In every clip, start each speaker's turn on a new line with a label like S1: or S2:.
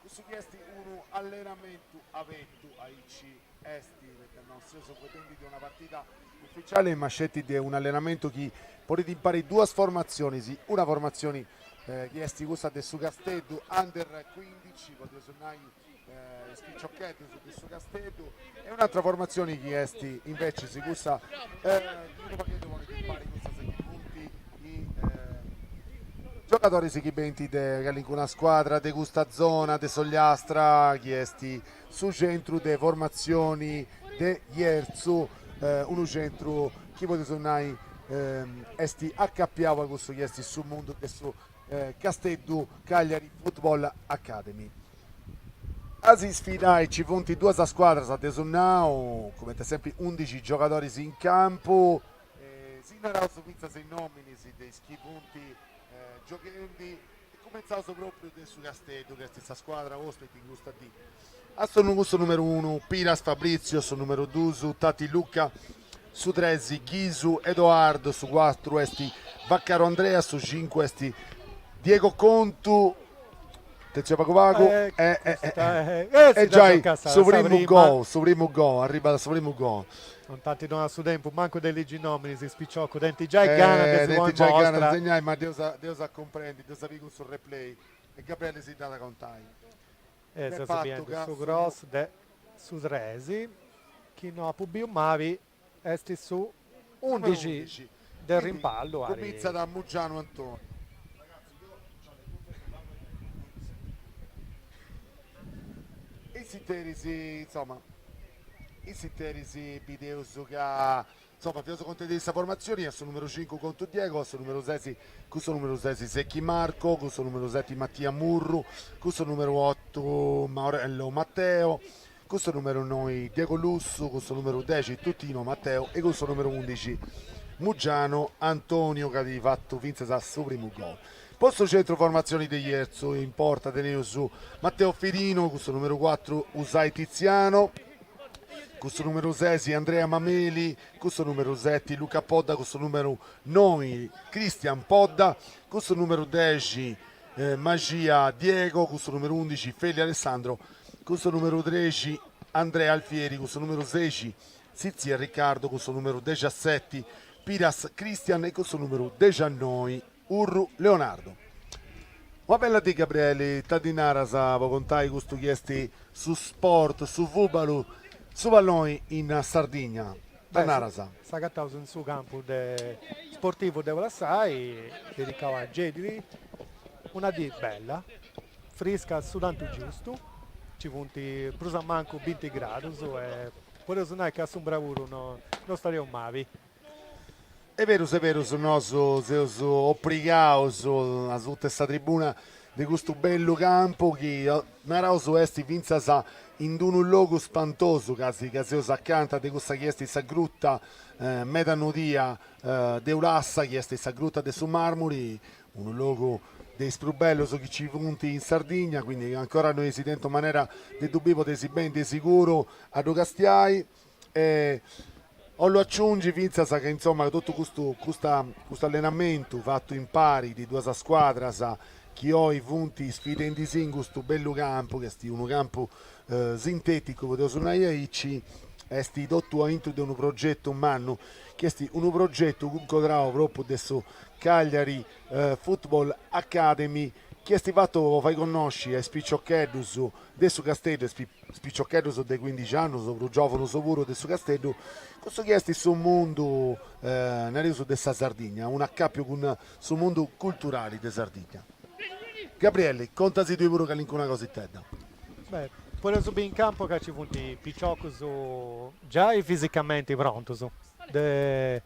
S1: Cussu chi est unu allenamentu abertu, aici est, poita no seus contendi de una partida uficiali, ma sceti de un'allenamentu chi ponit impari duas formatzionis, una formatzioni chi est cussa de su Casteddu Under cuindici, podiaus nai is piciocheddus de su Casteddu, E un'atra formatzioni chi est invecis cussa unu pagheddu po equippari cussas chi funt giogadoris chi benint de calincuna scuadra de custa zona de s'Ogliastra chi est su centru de formatzioni de Jerzu, unu centru chi podius nai est acapiau a cussu chi est su mundu de su Casteddu Cagliari Football Academy. A si sfidai nci funt duas scuadras dd'eus nau, cumenti sempri undixi giogadoris in campu, si naraus fintzas is nominis de is chi funt gioghendi, cumintzaus propriu de su Casteddu chi est sa scuadra ospiti in custa dì. A s'onnu cun su numeru unu, Piras Fabrizio, su numeru duus, Tati Luca, su tres, Ghisu Edoardo, su cuatru est Vaccaro Andrea, su cincu est Diego Contu, attenzione pagu pagu, e e giai su primu gol, su primu gol, arribat su primu gol. Non t'ant donau su tempus mancu de ligi is nominis is piciocus, tenint giai gana de si ponni in mostra. segnai ma dd'eus a cumprendi, dd'eus a biri cun su replay e Gabrieli si dd'at a contai. E seus biendi su cross de su tres chi no apu biu mali, est su undixi de rimpallu a. Cumintzat a Muggianu Antoni. In s'interis, insoma, in s'interis bideus ca Insoma, fiaus contendi de sa formatzioni, a su numeru cincu Contu Diego, a su numeru ses cun su numeru ses Secchi Marco, cun su numeru seti Mattia Murru, cun su numeru otu Maurello Matteo, cun su numeru noi Diego Lussu, cun su numeru dexi Tutino Matteo e cun su numeru undixi Muggianu Antonio chi at fatu fintzas su primu gol. Po su centru formatzioni de Jerzu, in porta teneus Matteo Firino cun su numeru cuatru Usai Tiziano, cun su numeru sesi Andrea Mameli, cun su numeru seti Luca Podda, cun su numeru noi Cristian Podda, cun su numeru dexi eh, Maxia Diego, cun su numeru undixi Feli Alessandro, cun su numeru trexi Andrea Alfieri, cun su numeru seixi Sitzia Riccardo, cun su numeru dexaseti Piras Cristian e cun su numeru dexannoi Urru, Leonardu. Una bella dì Gabrieli, ita ddi naras po contai custu chi est su sport, su fùbalu, su palloni in Sardigna, ita naras? S'agataus in su campu de sportivu de Ulassai, dedicau a Geddi, una dì bella, frisca su tantu giustu, nci funt prus a mancu binti gradus e podeus nai ca a s'umbra puru no istareus mali E perus e perus nos seus oprigaus a suta 'e sa tribuna de custu bellu campu chi naraus est fintzas in unu logu spantosu, ca si ca seus acanta de cussa chi est sa gruta meda nodia de Ulassa, chi est sa gruta de su Marmuri, unu logu de is prus bellus chi nci funt in Sardigna, quindi ancora no eis tentu manera de ddu bi podeis beni de siguru a ddu castiai. E 'ollu aciungi fintzas ca insomma totu custu custa custu allenamentu fatu impari de duas scuadras chi oi funt sfidendi si in custu bellu campu chi est unu campu sinteticu podeus nai aici est totu aintru de unu progetu mannu chi est unu progetu cuncodrau propriu de su Cagliari Football Academy chi est fatu po fai connosci a is piciocheddus De su Casteddu e is piciocheddus de cuindixi annus prus giovunus puru de su Casteddu cussu chi est su mundu nareus de sa Sardigna un accapiu cun su mundu culturali de Sardigna Gabrielli contasi tui puru calincuna cositedda. Beh podeus biri in campu ca ci funt piciocus giai fisicamenti prontus de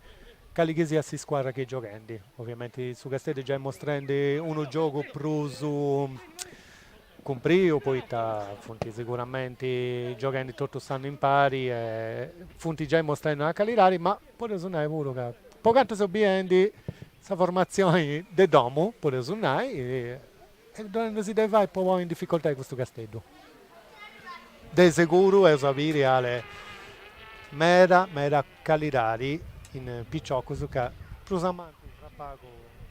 S1: cali chi siat s'iscuadra est chi gioghendi ovviamenti su Casteddu giai mostrendi unu giogu prus cumpriu poita funt siguramenti gioghendi totu s'annu impari e funt giai mostrendi una calidadi, ma podeus nai puru ca po cantu seu biendi sa formatzioni de domu, podeus nai, est donendi si de fai po ponni in dificoltadi custu Casteddu. De seguru eus a biri ale meda meda calidadi in piciocus ca prus ainanti prus a pagu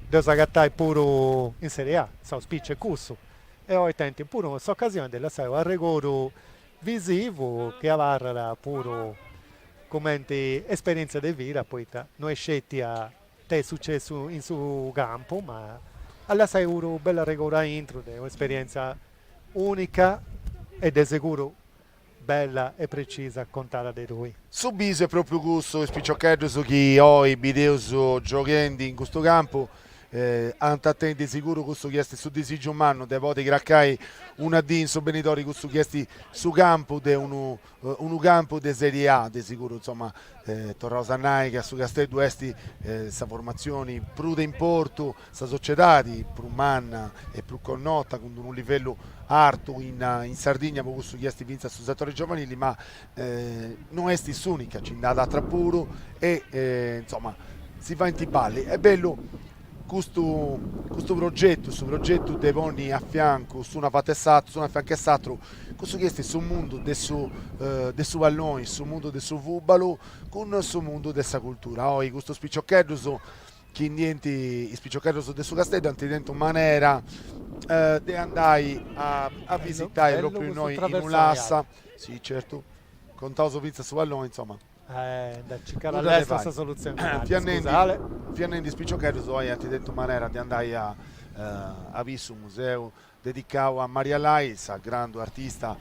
S1: ddeus agatai puru in serie A, s'auspici est cussu. e oi tenint puru s'ocasioni de lassai un arregodu visivu chi abarrat puru cumenti esperientzia de vida poita no est sceti ita est sucessu in su campu ma a lassai puru u bellu arregodu aintru de un'esperientzia unica e de seguru Bella e precisa contada de tui. Su bisu est pròpriu cussu, is piciocheddus chi oi bideus gioghendi in custu campu ant a tenni de siguru cussu chi est su disìgiu mannu de podi cracai una dì in su benidori cussu chi est su campu de unu unu campu de Serie A, de siguru insoma Torraus a nai ca su Casteddu est sa formatzioni prus de importu, sa sociedadi prus manna e prus connota cun d-unu livellu artu in in Sardigna po cussu chi est fintzas su setori giovanili, ma no est s'unica, nci nd'at atra puru e insomma si faint balli. Est bellu Custu, custu progetu, su progetu de ponni a fiancu s'unu a fatu 'e s'atru, s'unu a fiancu 'e s'atru, cussu chi est su mundu de su de su palloni, su mundu de su fùbalu cun su mundu de sa cultura. Oi custus piciocheddus chi ndi 'ent, is piciocheddus de su Casteddu ant tentu manera de andai a visitai propriu innoi in Ulassa, si certu, contaus fintzas su palloni, insomma Fiannendi is piciocheddus oi ant tentu manera de andai a a biri su museu dedicau a Maria Lai, sa grandu artista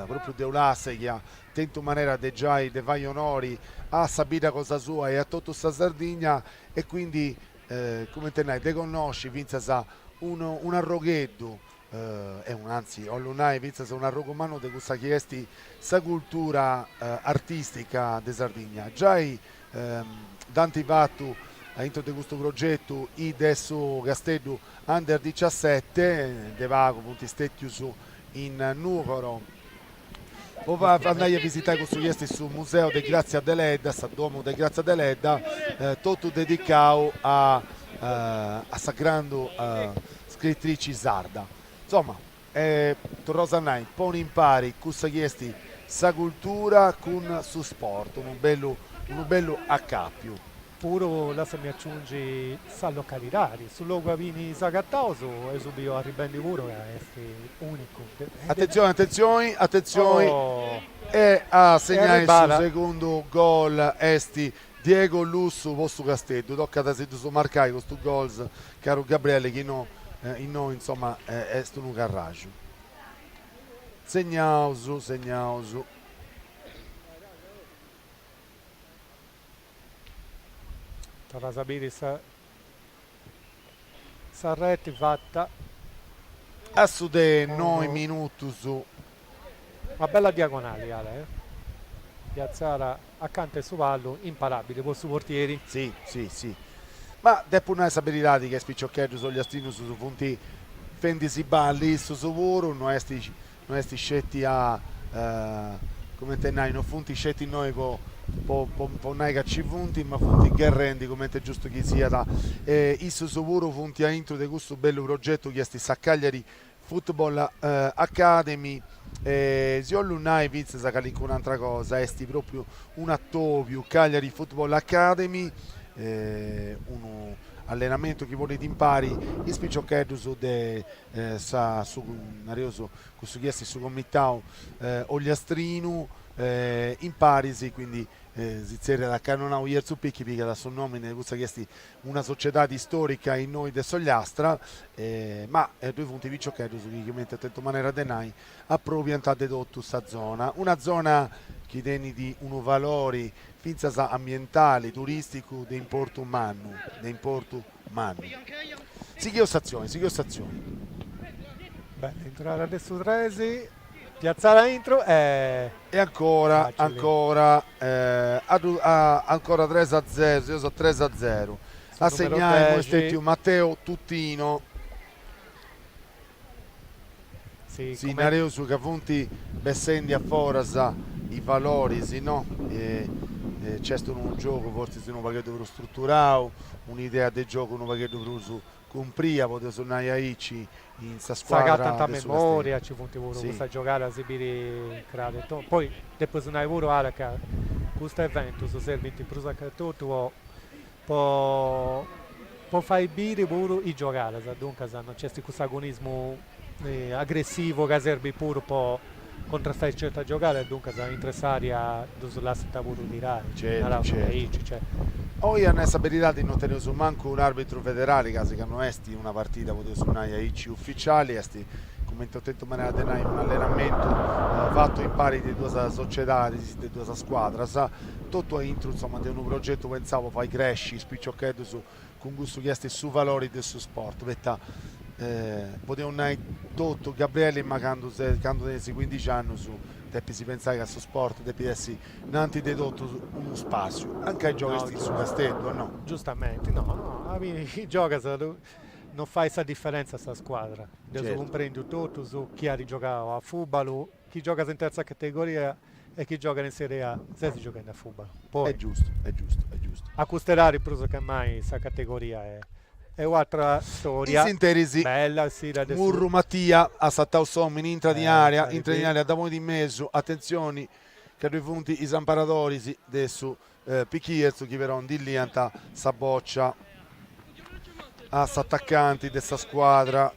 S1: propriu de Ulassa chi at tentu manera de giai de fai onori a sa bidda cosa sua e a totu sa Sardigna e quindi cumenti a nai de connosci fintzas un'arrogheddu e unu anzi, 'ollu nai fintzas un'arrogu mannu de cussa chi est sa cultura artìstica de Sardigna. Giai nd'ant fatu a intro de custu progetu is de su Casteddu Under diciassete, de pagu funt stètius in Nùgoro, po andai a visitai cussu chi est su museu de Grazia Deledda, sa domu de Grazia Deledda, totu dedicau a a sa grandu scritrici sarda. Insomma, torraus a nai, ponni impari cussa chi est sa cultura cun su sport, unu bellu unu bellu acapiu. Puru lassami aciungi sa localidadi, su logu aundi s'agataus e s'eus biu arribendi puru ca est unicu. Attenzioni attenzioni attenzioni e a segnai su segundu gol est Diego Lussu po su Casteddu, tocat a si ddus marcai custus gols caru Gabriele chi no innoi insomma est unu carraju. Segnaus segnaus. Torraus a biri sa sa reti fatta a is dexenoi minutus. Una bella diagonali Ale eh. Piazzada acanta 'e su pallu, imparabili po su portieri. Si, si, si. Ma depu nai sa beridadi ca is piciocheddus ogliastinus funt fendi-sì balli issus puru, no est No est sceti a, comente a nai, no funt sceti innoi po po nai ca nci funt, ma funt gherrendi comente est giustu chi siat. E issus puru funt a intru de custu bellu progetu chi est sa Cagliari Football Academy. E si 'ollu nai fintzas calincuna atra cosa, est propriu unu atobiu, Cagliari Football Academy, unu allenamentu chi ponit impari is piciocheddus de sa su nareus cussu chi est su comitau ogliastrinu imparis quindi si tzerriat Cannonau Jerzu Picchi pigat su nomini de cussa chi est una sociedadi istorica innoi de s'Ogliastra ma ddoi funt piciocheddus chi cumenti ant tentu manera de nai aprobiant de totu sa zona, una zona chi tenit unu valori fintzas ambientali turisticu de importu mannu de importu Mannu. Sighìus s'atzioni, sighìus s'atzioni. Bella intrada de su Tresi, piatzada a intro e... E ancora, Facili. ancora, eh, a, a, ancora 3 a 0, seus 3 a 0. A segnare est stètiu Matteo Tuttino. Si nareus ca funt bessendi a foras is valoris, no? Nc'est unu giogu fortzis unu pagheddu prus struturau, un'idea de giogu unu pagheddu prus cumpria, podiaus nai aici, in sa scuadra de su Casteddu. S'agatant a memoria, nci funt puru custas giogadas si biri crarus totu. Poi depu nai puru, Ale, ca custus eventus serbint prus a totu po po po fai biri puru is giogadas, duncas no nc'est cuss'agonismu agressivu ca serbit puru po cuntrastai certas giogadas, duncas intr'e s'àrea ddus lassant puru tirai, naraus diaici. Oi a nai sa beridadi no teneus mancu un'àrbitru federali, gasi ca no est una partida, podeus nai aici, uficiali, est, cumenti ho tentu manera de nai, unu allenamentu fatu impari de duas sociedadis, de duas scuadras, totu a intru insoma de unu progetu pentzau po fai cresci is piciocheddus cun cussu chi est su valori de su sport, poita podeus nai totu Gabriele ma candu ses candu tenis cuindixi annus depis pentzai ca su sport depit essi in antis de totu unu spassiu, ancai gioghes in su Casteddu o no? Giustamenti, no no a biri chi gioghes non fait sa diferentza sa scuadra, dd'eus cumprendiu totus chi at giogau a fubalu Chi giogat in terza categoria e chi giogat in Serie A ses gioghende a fùbalu, poi. Est giustu, est giustu, est giustu. A custa edade prus che mai sa categoria est un'atra storia. In s'interis, Murru Matia at sartau s'omini intrat in area, intrat in area dda ponit in mesu, atentzioni ca ddoi funt is amparadoris de su Picchi Jerzu chi però ndi liant sa bòcia s'atacanti de sa scuadra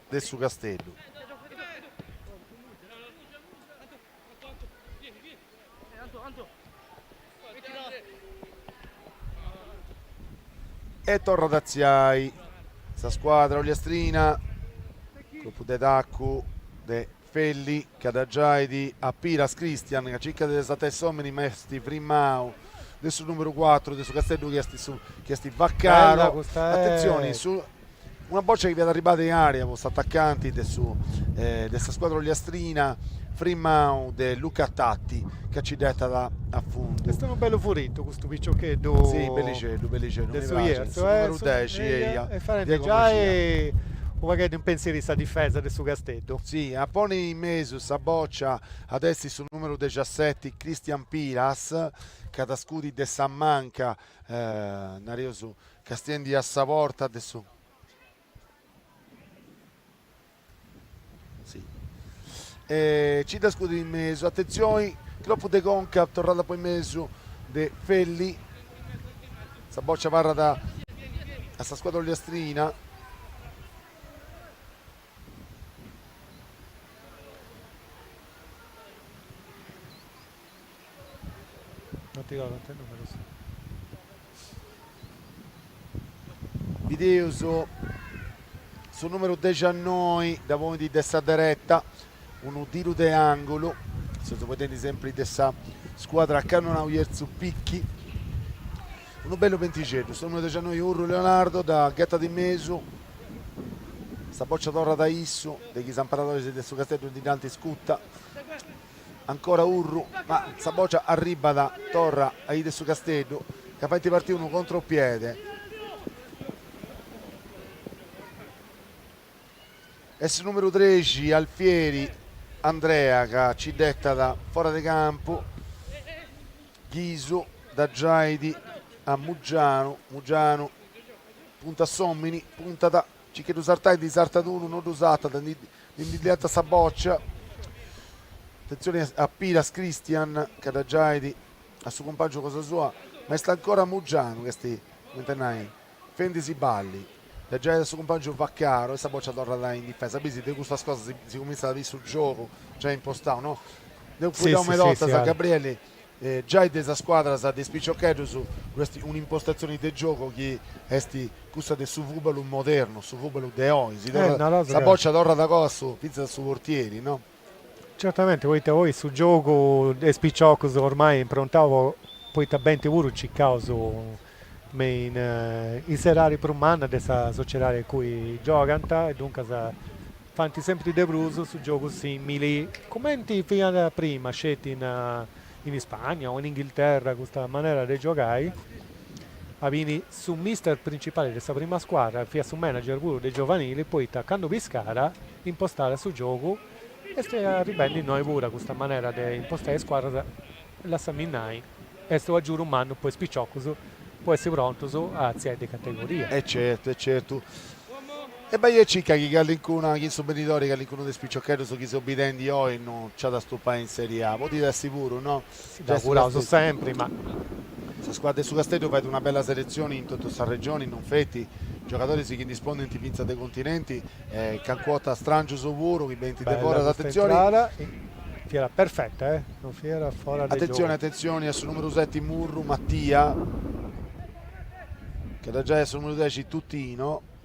S1: de su Casteddu. E torrat a tziai sa scuadra olliastrina, colpu de tacu de Felli, ca dda giait a piras Christian, ca circat de sartai s'òmini ma est frimau, de su nùmeru cuatru de su Casteddu chi est su chi est Vaccaro, atentzioni su una bòcia chi fiat arribada in àrea po s'atacanti de su de sa scuadra ogliastrina, frimau de Luca Tatti, ca nci dd'etat a fundu. Est unu bellu furitu custu piciocheddu de su Jerzu, e fadendi giai u' pagheddu in pentziri sa difesa de su Casteddu Si, a poni in mesu sa bòcia at essi su nùmeru dexaseti Cristian Piras, ca at scudi de sa manca, nareus, castiendi a sa porta de su. Si. E nci dda scudit in mesu, atentzioni, cropu de conca, torrat po in mesu de Felli, sa bòcia abarrat a sa scuadra olliastrina. Bideus su numeru dexannoi dda ponit de sa dereta, unu tiru de angulu, seus potendi sempri de sa scuadra cannonau Jerzu Picchi. Unu bellu pentixeddu, su numeru dexannoi Urru Leonardo dda ghetat in mesu, sa bòcia torrat a issu, de chi is amparadoris de su Casteddu ndi dd'ant iscuta, ancora Urru, ma sa bòcia arribbat torra a is de su Casteddu, ca faint partii unu contropiede, est su numeru trexi Alfieri Andrea ca nci dd'etat fora de campu, Ghisu, dda giait a Mugianu, Mugianu, puntat s'òmini, puntat, circat 'e ddu sartai ndi sartat unu, no ddu sartat, ndi ndi liant sa bòcia, atentzioni a Piras Cristian ca dda giait a su compàngiu cosa sua, ma est ancora Mugianu chi est, comente nai, Fendi si balli, dda giait a su cumpàngiu Vaccaro e sa bòcia torrat in difesa. Bisi, de custas cosas si, si cumintzat a biri su giogu giai impostau, no? Deu fueddau meda 'ortas a Gabrielli, giai de sas scuadras de is piciocheddus ddu est un'impostatzioni de giogu chi est cussa de su fùbalu modernu, su fùbalu de oi, si torrat, sa bòcia torrat goa a su, fintzas a su portieri, no? Certamente poita poi su giogu de is piciocus ormai improntau po poita benint puru circaus me is edadis prus mannas de sa sociedadi in cui giogant e duncas faint sempri de prus su giogu simili cumenti fiant prima sceti in in Ispagna o in Inghilterra custa manera de giogai aundi su mister principali de sa prima scuadra fait su manager puru de giovanili poita cantu Piscara impostat su giogu est arribendi innoi puru a custa manera de impostai is scuadras lassami nai est un agiudu mannu po is piciocus po essi prontus a atziai de categoria. E certu e certu. E bai e circa chi callincuna, chi in su benidori callincunu de is piciocheddus chi seus bidendi oi no nc'at a stupai in Serie A, podit essi puru, no? Ddu auguraus sempri, ma. Sa scuadra de su Casteddu fait una bella seletzioni in totu sa regioni, non feti, giogadoris chi ndi 'òddint fintzas de continenti e cancu 'orta strangius puru chi benint de foras, atentzioni. Bella custa intrada, fiat perfetta, eh! Non fiat fora de giogu. Atentzioni, atentzioni a su numeru seti Murru Mattia, che dda giait a su numeru dexi Tutino.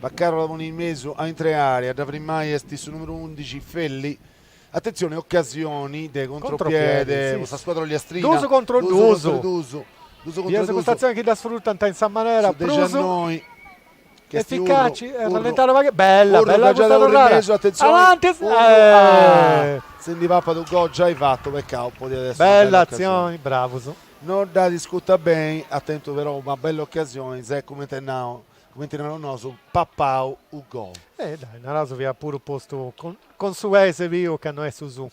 S1: Vaccaro la ponit in mesu a intrare, a dda frimmai est su numeru undixi Felli, atentzione ocasioni de contropiede po sa scuadra ogliastrina, duus contro duus, biaus cust'atzioni chi dda sfrutant in sa manera prus eficaci, rallentare u' pagu, bella, bella custa torrada, avanti, si nd'est papau u' gol giai fatu, peccau, podiat essi una bella atzioni, bravus. No dd'at iscutta beni, at tentu però una bella ocasioni, s'est cumenti nau, cumenti narus nosu, papau u' gol. E dai, naraus fiat puru postu cun su pei s'est biu ca no est su suu,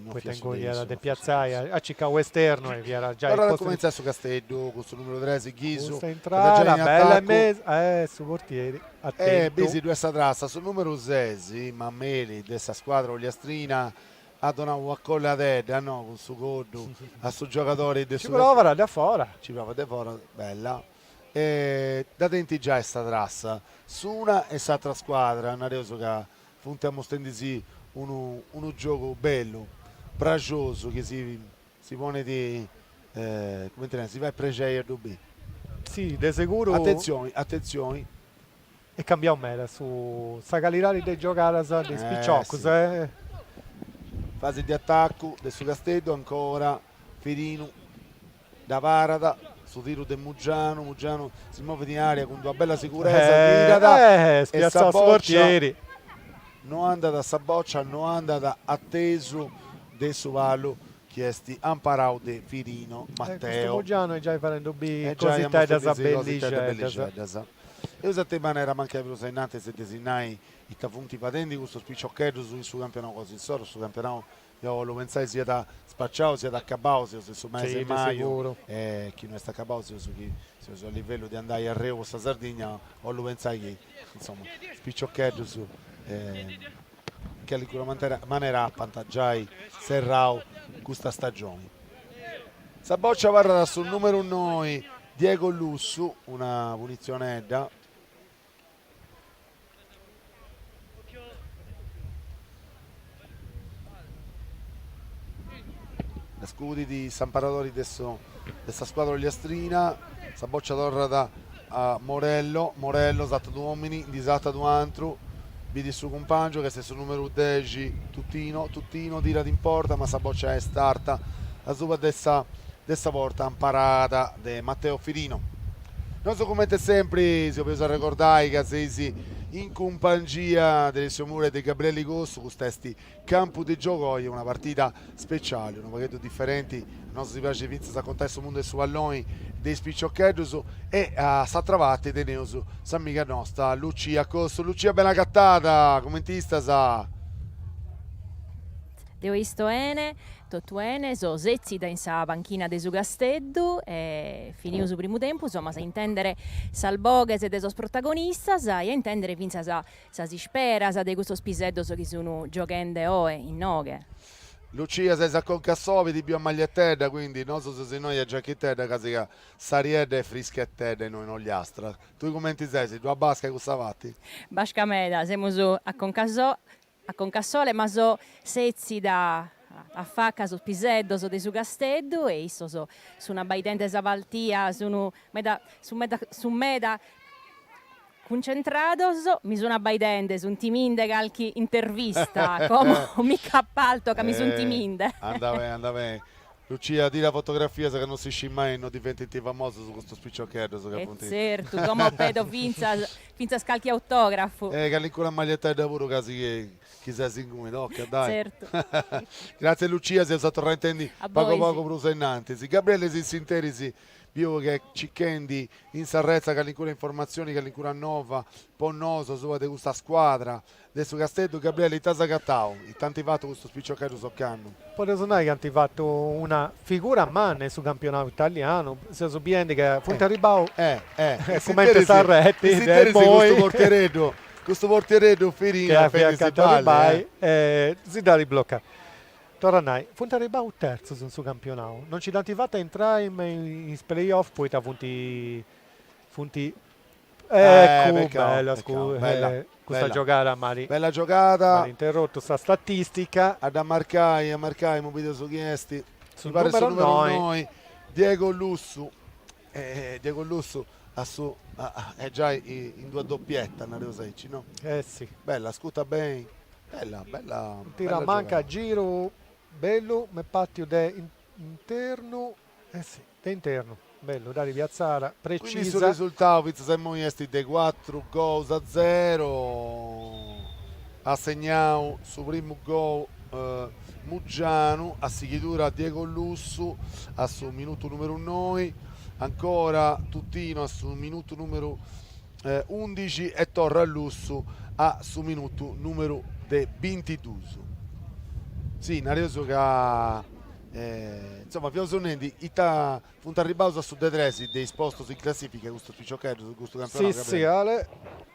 S1: poita inguni fiat de piatzai, at cicau esternu e fiat giai Torrat a cumentzai su Casteddu cun su numeru tres Ghisu, custa intrada, bella in mesu, eh su portieri at tentu, e bisi ddu est sa trassa, su numeru ses Mameli de sa scuadra ogliastrina, At donau una coddadedda, no, cun su coddu a su giogadori de su. Nci provat de afora. Nci provat de afora, bella. E dda tenint giai sa trassa s'una e s'atra scuadra, nareus ca funt ammustendi-si unu unu giogu bellu, prexosu, chi si si ponit, cumenti nareus, si fait prexei a ddu biri. Si, de seguru. Atentzioni, atentzioni. Est cambiau meda su sa calidadi de giogadas de is piciocus. Fasi de atacu de su Casteddu ancora, Firinu dda parat, su tiru de Mugianu, Mugianu si movit in area cun d'una bella siguretza, tirat e sa bòcia no andat, sa bòcia no andat a tesu de su palu chi est amparau de Firinu Mateu. Custu Mugianu est giai fadendi cositeddas bellixeddas. Eus a tenni manera mancai prus a innantis de si nai ita funt fadendi custus piciocheddus in su campionau cosa insoro, su campionau deu 'ollu pentzai siat spaciau, siat acabau, seus in su mesi 'e maju e chi no est acabau seus chi seus a livellu de andai arreu po sa Sardigna, 'ollu pentzai chi insoma is piciocheddus callincuna manera apant giai serrau custa stagioni. Sa bòcia abarrat a su nùmeru noi, Diego Lussu, una punitzionedda. Dda scudit s'amparadori de su de sa scuadra ogliastrina, sa bòcia torrat a Morello, Morello satat unu òmini, ndi satat unu antru, bidit su cumpàngiu ch'est su nùmeru dexi Tutino, Tutino tirat in porta ma sa bòcia est arta asuba de sa de sa porta amparada de Matteo Firino. Nosu comente sempri si 'obeus arregordai ca seis in cumpangia de Alessio Mura e de Gabrielli Cossu, custa est Campu de giogu oi una partida speciali, unu pagheddu diferenti, nosu si praxit fintzas a contai su mundu 'e su palloni de is piciocheddus e a s'atra parti teneus s'amiga nosta Lucia Cossu. Lucia bene agatada, cumenti istas? Deo isto 'ene, totu 'ene, so setzida in sa panchina de su Casteddu e finiu su primu tempus, amus a intendere sas boghes de sos protagonistas e a intendere fintzas Sas isperas de custos piseddos chi sun gioghende oe innoghe. Lucia ses a conca a sobi, ti biu a magliettedda quindi nosu seus innoi a giacchittedda casi ca s'ariedda est frischettedda innoi in Ollastra, tui cumenti ses, ddu at basca a cussa parti? Basca meda semus a conca so a conca a sole ma so setzida affacca a sos piseddos de su casteddu e issos sun abbaidende sa paltia sun meda sun meda sun meda Cuncentrados, mi sun abbaidende, sun timinde calchi intervista, como mi cc'appalto ca mi sun timinde. Eh, anda bene, anda bene. Lucia, tira fotografias ca non si scit mai non diventint famosos custos piciocheddos ca funt. E tzertu, como pedo fintzas fintzas calchi autografu. E callincuna magliettedda puru ca si chi ses inguni, tocat, dai. Tzertu. Gratzias Lucia, s'eus a torrai a intendi pagu pagu prus a innantis. Gabriele, in s'interis Biu ch'est cicchendi in s'arretza callincuna informatzioni, callincuna nova po nosu asuba de custa scuadra de su Casteddu. Gabriele, ita as agatau? Ita ant fatu custus piciocheddus ocannu? Podeus nai chi ant fatu una figura manna in su campionau italianu, seus biendi ca funt arribbau cumenti a s'arreti de imoi, custu portiereddu Firino, chi at feti si dd'arribai e si dd'at blocau. Torra a nai, funt arribau terzus in su campionau, non nci dd'ant fata a intrai me in is playoff poita funt funt Eccu, Peccau, bella peccau, scu- bella, eh, custa bella. giogada m'at Bella giogada, m'at interrotu sa statistica. a dda marcai, a marcai, imoi bideus chi est, Su mi parit su numeru numero noi. noi, Diego Lussu, E Diego Lussu a su est giai in d'una doppietta nareus aici no? Eh sì. Bella ascuta beni, bella bella. Unu tiru a manca a giru bellu m'est partu de internu eh sì de internu bellu dd'at piatzada precisa. Quindi su resultau fintzas a immoi est de cuatru gols a zero, at segnau su primu gol. Muggianu a sighidura Diego Lussu a su minutu numeru noi, ancora Tutino a su minutu numeru eh, 11 e torra Lussu a su minutu numeru de 22. Sì, nareus ca eh, insomma fiaus nendi ita Funt arribbaus a su de tres de is postus in classìfica custus piciocheddus de custu campionau, Gabriele? Si, si, Ale,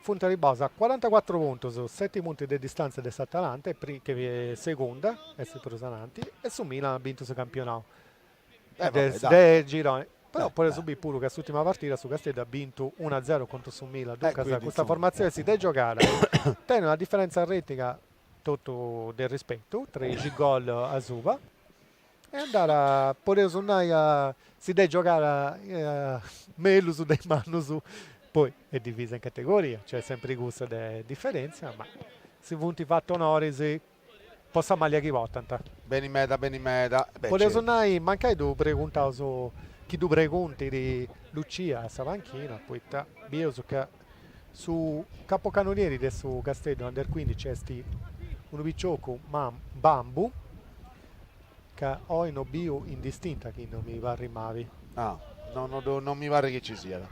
S1: funt arribbaus a cuarantacuatru puntus, seti punti de distàntzia de s'Atalanta, chi est segunda, est prus ananti, e su Milan at bintu su campionau de gironi. Però podis biri puru ca s'ùrtima partida su Casteddu at bintu unu a zero contra su Milan, duncas custa formatzioni si dd'est giogada tenit una diferèntzia reti totu de rispetu, trexi gol asuba. E andat, podeus nai ca si dd'est giogada mellus de is mannus, poi est divisa in categoria, nc'est sempri cussa de diferèntzia, ma si funt fatu onoris po sa maglia chi portant. Beni meda, beni meda. E beh, certu. Podeus nai, mancai ddu preguntaus, chi ddu preguntit Lucia a sa panchina, poita bius ca Su capocanonieri de su Casteddu under cuindici est unu piciocu Mbambu ca oi no biu in distinta chi no mi parrit mali. Ah, no mi parrit chi ci siat.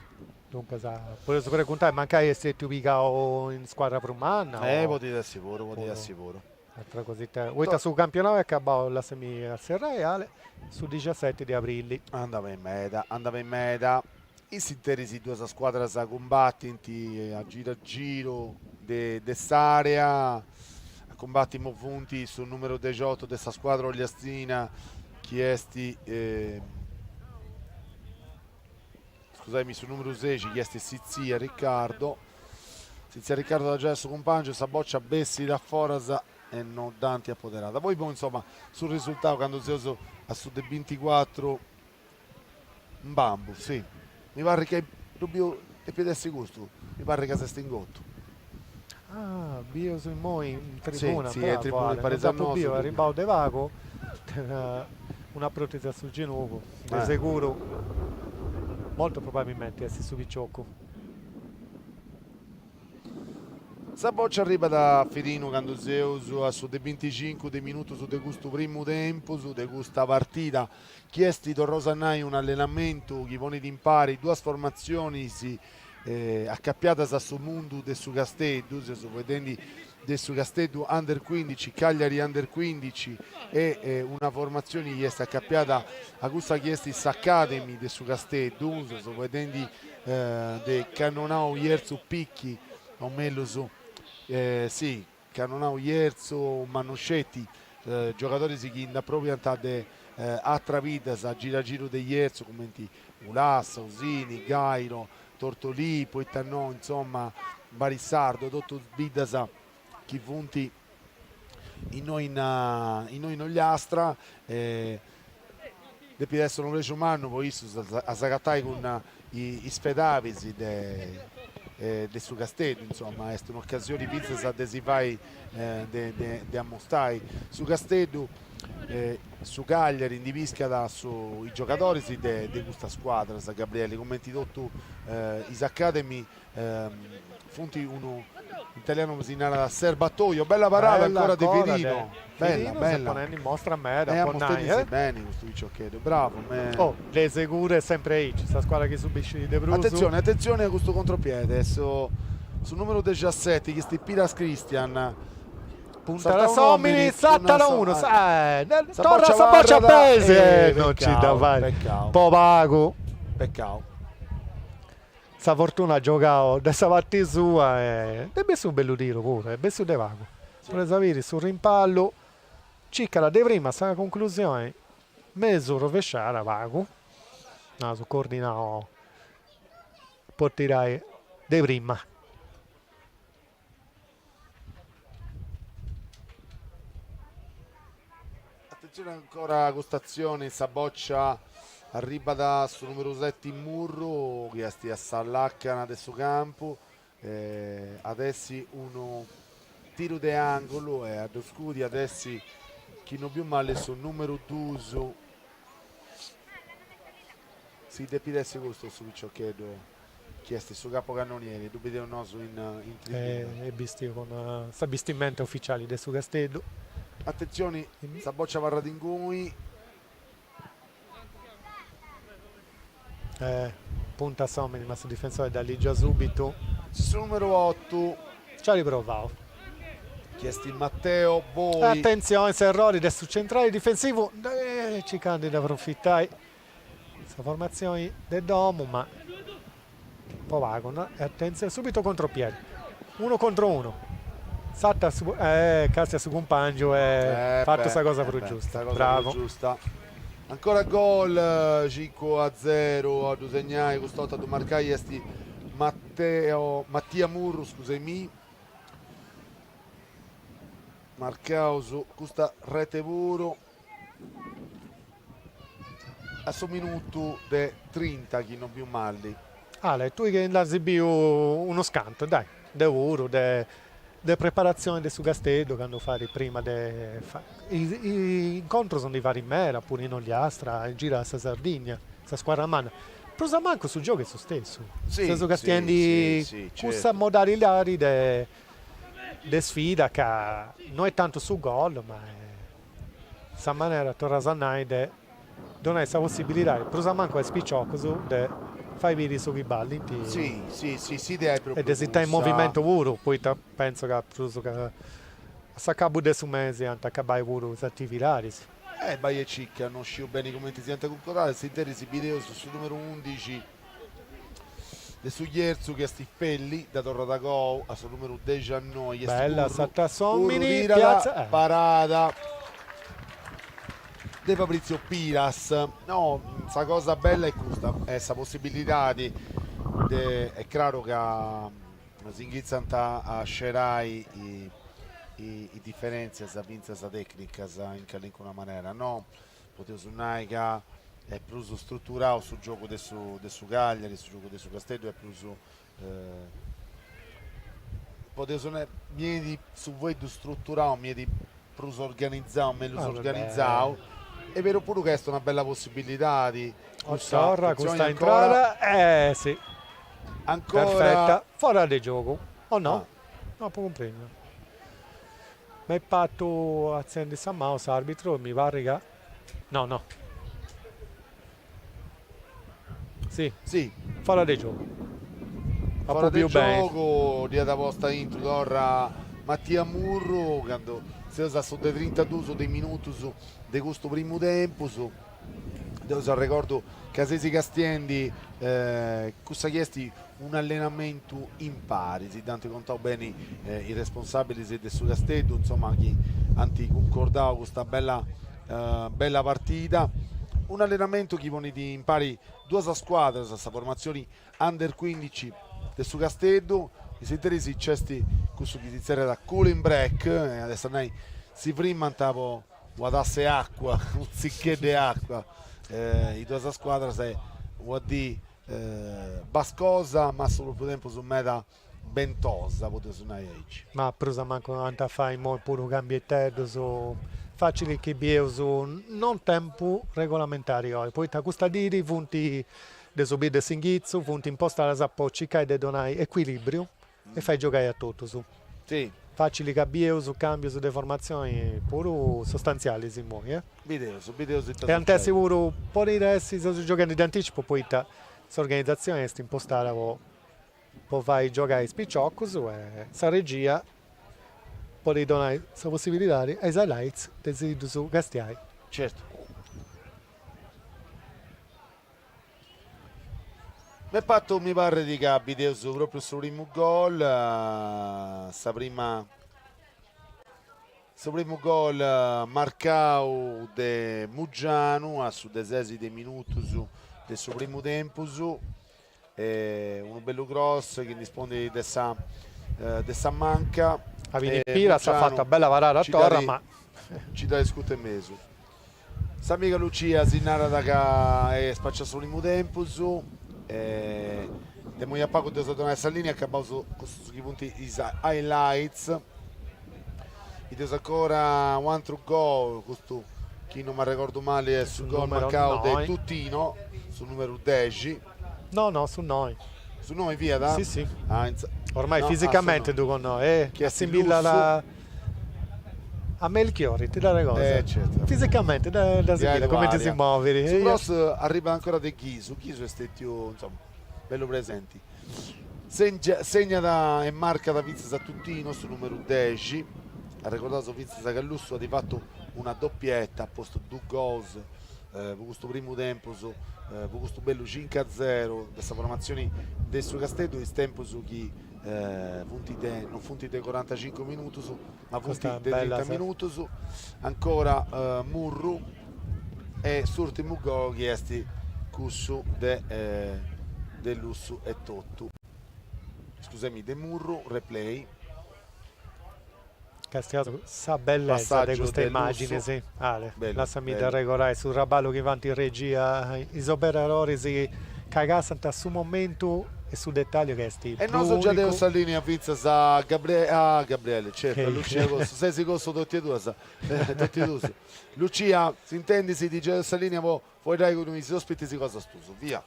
S1: Duncas, podeus preguntai, mancai est stetiu pigau in scuadra prus manna o. Eh, podit essi puru, podit essi puru. Ateras cositas, poita su campionau est acabau, la semi a Serraiale su dixaseti de abrili. Andat beni meda, andat beni meda, in s'interis is duas scuadras cumbatint a giru a giru de s'area, a cumbati imoi funt su numeru dexiotu de sa scuadra ogliastina chi est scusai-mì su numero 6 chi est Sitzia Riccardo Sitzia Riccardo dda giait a su cumpàngiu sa boccia bessit a foras e non dd'ant apoderada poi poi insomma su risultau candu seus a su de 24 Mbambu sì mi parit chi ddu biu depit essi custu mi parit chi s'est ingottu Ah, bieus immoi in tribuna, sì, bravo, sì, tribuna, parit dd'apu biu, arribau de pagu, una protesi a su genugu, de eh. seguru, molto probabilmente est su piciocu. Sa boccia arribat a Firinu candu seus a su de 25 de minutus de custu primu tempus de custa partida chi est torraus a nai un'allenamentu chi ponit impari duas formatzionis Acapiadas a su mundu de su Casteddu, seus faeddendi de su Casteddu Under cuindici, Cagliari Under cuindici e una formatzioni chi est acapiada a cussa chi est s'Academy de su Casteddu, seus faeddendi de Cannonau Jerzu Picchi o mellus si Cannonau Jerzu ma no sceti, giogadoris chi nd'aprobiant de atras biddas a giru a giru de Jerzu cumenti Ulassa, Osini, Gairo, Tortolì, poita no, insoma, Barisardo, totus biddas chi funt innoi in Ogliastra e Depit esser unu prexu mannu po issus a s'agatai cun is fedabis de su Casteddu, insoma, est un'ocasioni fintzas de si fai de ammustai su Casteddu, su Cagliari ndi piscat is giogadoris de custas scuadras, Gabriele, cumenti totu is academy funt unu in italianu como si narat serbatoio, bella parada Bella ancora de Firino. Bella, bella. ponendu in mostra meda, eh, po nai, eh. bene custu piciocheddu, bravo. Me... Oh, de seguru est sempre aici, sa scuadra chi subiscit de prus. Attenzione, attenzione a custu contropiede, su, su numero 17 chi est Piras Christian. Puntat s'omini, sartat unu, sa, eh, torra sa boccia pesi, eh, non ci dda fait, po pagu. Peccau. Sa fortuna at giogau de sa parti sua e dd'est bessu unu bellu tiru puru est bessu de pagu. Provaus a biri su rimpallu circat de prima sa cunclusioni mesu rovesciada pagu, naus cordinau po tirai de prima. Atentzione ancora a custa atzione in sa boccia arribat su numeru 7 Murru chi est a sa lacana de su campu e ad essi unu tiru de angulu e a ddu scudi ad essi chi non biu mali su numeru 2, sì, depit essi custu su piciocheddu chi est su capocannonieri, ddu bideus nosu in tribuna. Est bistiu cun sa bistimenta uficiali de su Casteddu. Atentzioni, sa bòcia abarrat ingunis. Punta a s'òmini, ma su difensori dda ligit subitu. Su numeru otu. Nci at provau. Chi est Matteo Boi. Atentzioni, s'errori de su centrali difensivu, circant de dda aprofitai. Sa formatzioni de domu ma po pagu no e atentzioni subitu contropiedi unu contro unu s'acatat càstiat su cumpangiu at fatu sa cosa prus giusta bravu ancora gol cincu a zeru a ddu segnai cust'orta a ddu marcai est Matteo Mattia Murru scusemi marcaus custa rete puru a su minutu de trinta chi non biu mali. Ale, tui che nd'as biu unus cantus, dai, deu puru, de de preparatzioni de su Casteddu candu fait prima de is incontrus ndi fait meda, puru in Ogliastra, girat sa Sardigna, sa scuadra manna, prus o mancu su giogu est su stessu, seus castiendi cussa modalidadi de de sfida ca no est tantu su gol ma est sa manera, torru a nai, de donai sa possibilidadi, prus o mancu a is piciocus, de fai biri su chi ballint e de si tenni in movimentu puru, poita pentzu ca prus ca a s'acabu de su mesi ant a acabai puru is atividadis. Bai e circa, no sciu beni cumenti siant cuncordadis, s'interis bideus su numeru undixi de su Jerzu chi est Felli, dda torrat agoa a su numeru dexannoe chi est Curru, Curru tirat parada de Fabrizio Piras, no sa cosa bella est custa, est sa possibilidadi de, est craru ca si inghitzant a scerai is diferentzias fintzas tecnicas in calincuna manera no? Podeus nai ca est prus struturau su giogu de su de su Cagliari, su giogu de su Casteddu est prus podeus nai mi benit su fueddu struturau mi benit prus organizau, mellus organizau est beru puru ca est una bella possibbilidadi cussa Torra custa intrada e si ancora perfetta fora de giogu o no? No apo cumprendiu. M'est partu artzendi sa manu s'arbitru e mi parrit ca no no. Si. Si. Foras de giogu. Apu biu beni. Foras de giogu dd'iat posta aintru torra Mattia Murru candu seus a su de trintaduus de minutus de custu primu tempus. deu s'arregordu ca seis castiendi custa chi est un'allenamentu impari, si dd'ant contau beni is responsabilis de su Casteddu, insoma chi ant cuncordau custa bella bella partida, un'allenamentu chi ponit impari duas scuadras, sa formatzioni under cuindici de su Casteddu, in s'interis nc'est cussu chi si zerriat cooling break, at a essi a nai si frimant po una tassa 'e acua, unu tziccheddu 'e acua, is duas scuadras e una dì bascosa ma a su propriu tempus meda bentosa podeusu nai aici. Ma prus a mancu ant a fai imoi puru cambieteddus facilis chi bieus no in tempus regolamentari oi, poita custa dì funt de su bell'e s'inghitzu funt impostadas po circai de donai ecuilibriu E fait giogai a totus. Facili ca bieus cambius de formatzioni puru sustantzialis immoi. E ant essi puru podit essi seu gioghendi de anticipu poita s'organizatzioni est impostada po fai giogai is piciocus e sa regia podit donai sa possibilidadi e is highlights de si ddus castiai. De fatu mi parrit ca bideus propriu su primu gol, sa prima su primu gol marcau de Muggianu a su dexesimu minutu de su primu tempus, unu bellu cross chi ndi spondit de sa de sa manca, Avini Piras at fatu una bella parada e torra ma, nci dat is custu 'e mesu S'amiga Lucia si narat ca est faci a su primu tempus e de immoi a pagu dd'eus a donai sa linea, acabaus custus chi funt is highlights. Bideus ancora un'antru gol, custu chi no m'arregordu mali est su gol marcau de Tutino, su numeru dexi. No, no, su noi. Su noi fiat? Si, si. Ah, in sa. Ormai fisicamente ddu connosciu. E assimillat a Melchiorri, ti dd'arregordas? Eh, certu. Fisicamente dd'assimillat, cumenti si movit. Su cross arribbat ancora de Ghisu, Ghisu est stètiu, insoma, bellu presenti. Segnat e marcat fintzas a Tutino, su numeru dexi. Arregordaus fintzas ca Lussu at fatu una doppietta, at postu duus gols. po custu primu tempus, po custu bellu cincu a zero de sa formatzioni de su Casteddu, is tempus chi funt de, non funt de corantacincu minutus, ma funt de trinta minutus, ancora Murru e s'urtimu gol chi est cussu de de Lussu e totu, scusami, de Murru, replay. Càstia tui sa bellesa de custa immagine si Ale lassa-mì dda arregordai su traballu chi fant in regia is operadoris chi cassant a su momentu e su dettagliu chi est prus unicu. E nosu giai deus sa linea fintzas a a Gabriele certu a Lucia cossu ses cossu totie duas totie duus Lucia s'intendis si ti giai deus sa linea po Poi dai cun is ospitis cosas tuas, via!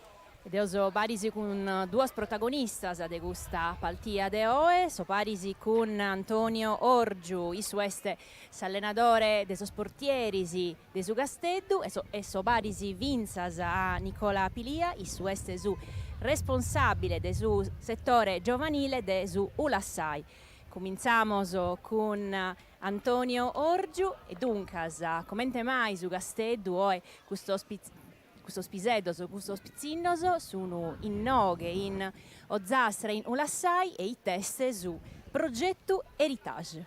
S1: E deo so paris cun duas protagonistas de custa partia de oe, so paris cun Antonio Orgiu, issu est s'allenadore de sos portieris de su Casteddu, e so paris fintzas a Nicola Pilia, issu est su responsàbile de su setore giovanile de su Ulassai. Cumintzamos cun Antonio Orgiu, E duncas, comente mai su Casteddu oe custos custos piseddos, custos pitzinnos sun innoghe in Ozastra in Ulassai e it'est su progetu Heritage?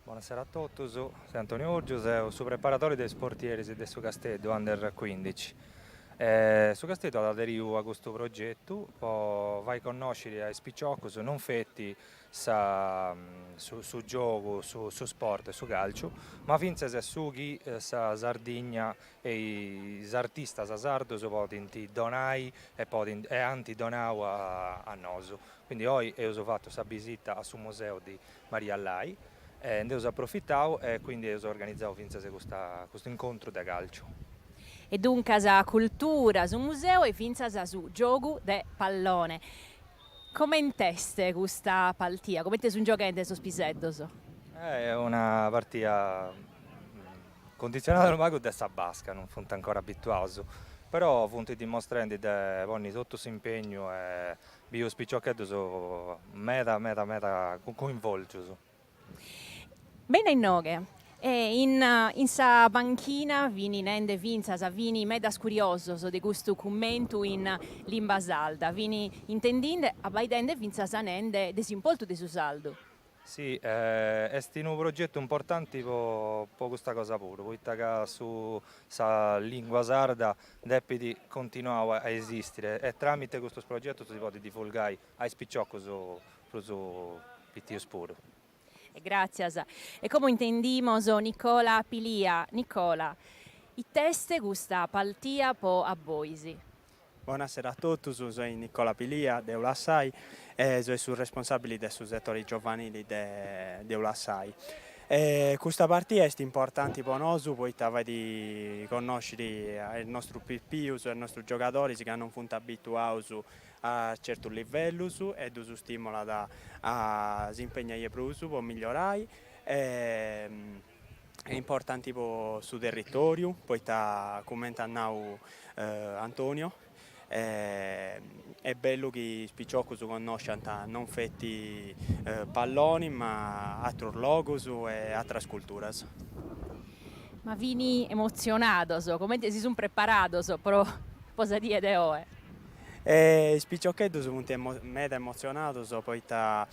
S1: Bonasera a totus, seu Antonio Orgiu, seu su preparadori de is portieris de su Casteddu Under cuindici. Su Casteddu at aderiu a custu progetu po fai connosciri a is piciocus non feti sa su giogu su sport e su calciu ma fintzas su chi sa Sardigna e is artistas sardos podint donai e podint e ant donau a a nosu, quindi oi eus fatu sa bisita a su museu di Maria Lai e nd'eus aprofitau e quindi eus organizau fintzas custa custu incontru de calciu. E duncas cultura, su museu e fintzas su giogu de pallone. Coment'est custa partia? Comente sun gioghende sos piseddos? Est una partia cunditzionada unu pagu de sa basca, non funt ancora abituaus, però funt dimostrendi de ponni totu s'impegnu e biu is piciocheddus meda meda meda coinvolgius. Bene inoghe, e in in sa panchina fint nende fintzas, fint medas curiosos de custu cummentu in limba sarda, fint intendende, abbaidende fintzas nende de s'importu de su sardu. Sì, est unu progetu importanti po po custa cosa puru, poita ca su sa lingua sarda depit continuai a esistire e tramite custus progetus si podit divulgai a is piciocus prus piticus puru. E gràtzias. E como intendimos Nicola Pilia, Nicola, it'est custa partia pro a bois? Bonasera a totus, soi Nicola Pilia de Ulassai e soi su responsàbili de su setore giovanili de Ulassai. Custa partia est importanti po nosu poita fait connosciri a is nostrus pipius, a is nostrus giogadoris ca non funt abituaus a certus livellus ddus stimolat a s'impegnai 'e prus po migliorai est importanti po su territoriu poita cumenti at nau Antonio est bellu chi is piciocus connosciant non feti palloni ma atrus logus e atras culturas. Ma fini emotzionados, cumenti si sunt preparados pro sa die de oe? E is piciocheddus funt meda emotzionaus poita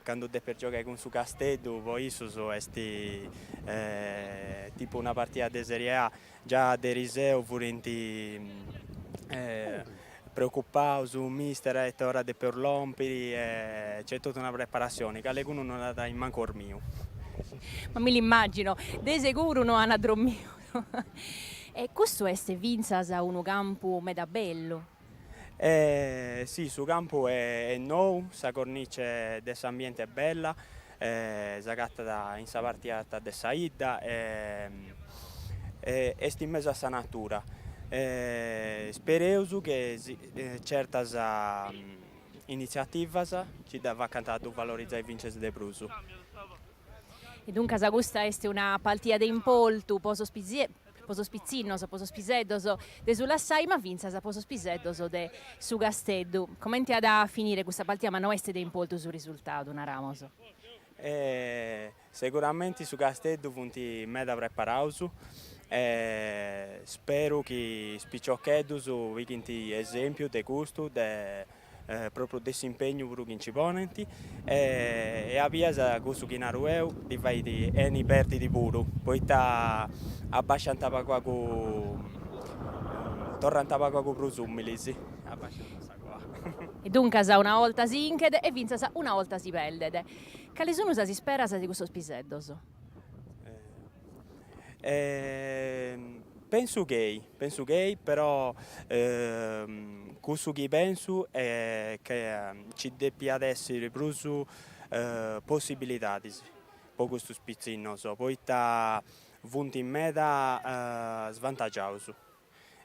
S1: candu depis giogai cun su Casteddu po issus est tipu una partida de Serie A. Già de eriseu furint preocupaus, mister a ite ora depeus lompiri e nc'est totu una preparatzioni, calicunu non at mancu ormiu. Ma mi l'immagino, de seguru no ana dromiu. E custu est fintzas unu campu meda bellu. E sì, su campu est nou, sa cornice de s'ambiente est bella, s'agatat in sa parte arta de sa 'idda e est in mesu a sa natura. Spereus che certas initziativas nci dda facant a ddu valorizai fintzas de prus. E duncas custa est una partia de importu po sos po sos pitzinnos, po sos piseddos de s'Ulassai, ma fintzas po sos piseddos de su Casteddu. Comente at a finire custa partia, ma no est de importu su risurtadu, naramos? Seguramenti su Casteddu funt meda preparados e speru chi is piciocheddus pighint esèmpiu de custu de propriu de s'impegnu puru chi nci ponent e a bias cussu chi naru eo ddi fait 'eni perdi puru, poita abbasciant pagu pagu torrant pagu pagu prus umilis e duncas una 'olta si 'inchet e fintzas una 'olta si perdet. Cales sun sas isperas de custos piseddos? pensu chei pensu chei però cussu chi pensu est chi ci depiat esser prus possibilidades pro custos pitzinnos poita funt meda svantagiaus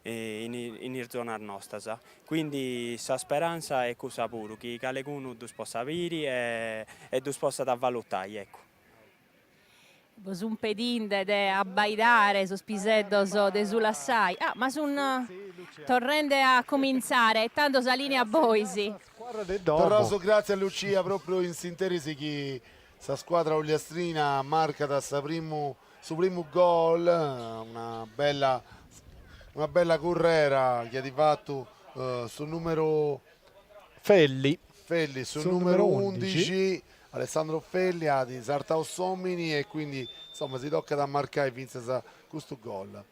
S1: in is zonas nostras, quindi sa speranza est cussa puru chi calecunu ddos possat biri e ddos possat valutai eccu Nos sun pedinde de abbaidare sos piseddos de s'Ulassai. Ah, ma sun torrende a comintzare e tando sa lìnea a bois. Torraus gràtzias a Lucia, pròpriu in s'interis chi sa scuadra ogliastrina marcat sa primu su primu gol, una bella una bella currera chi at fatu su nùmeru Felli. Felli su numeru undixi, Alessandro Felli at sartau s'omini e quindi insomma si tocat a marcai fintzas custu gol.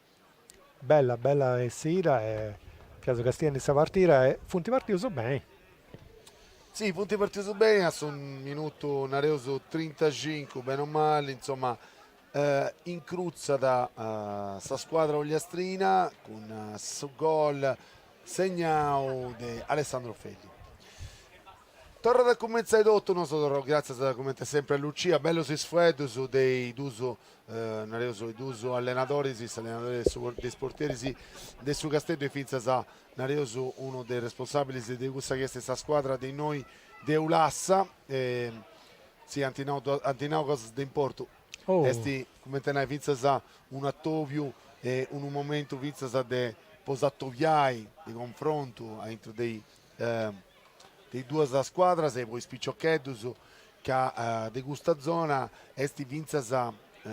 S1: Bella bella essida e fiaus castiendu sa partida e funt partius beni. Sì funt partius beni a su minutu nareus trintacincu beni o mali insomma incrutzat sa scuadra ogliastrina cun su gol segnau de Alessandro Felli. Torrat a cumentzai totu, nosu torraus gratzias comente sempre a Lucia, bellus is fueddus de is duus nareus is duus allenadoris, s'allenadori e su de is portieris de su Casteddu e fintzas nareus unu de is responsabilis de cussa chi est sa scuadra de innoi de Ulassa, Sì, ant nau cosas de importu. Est, cumenti a nai, fintzas un'atòbiu e unu momentu fintzas de po s'atobiai, de confrontu aintru de is duas scuadras e po is piciocheddus, ca de custa zona est fintzas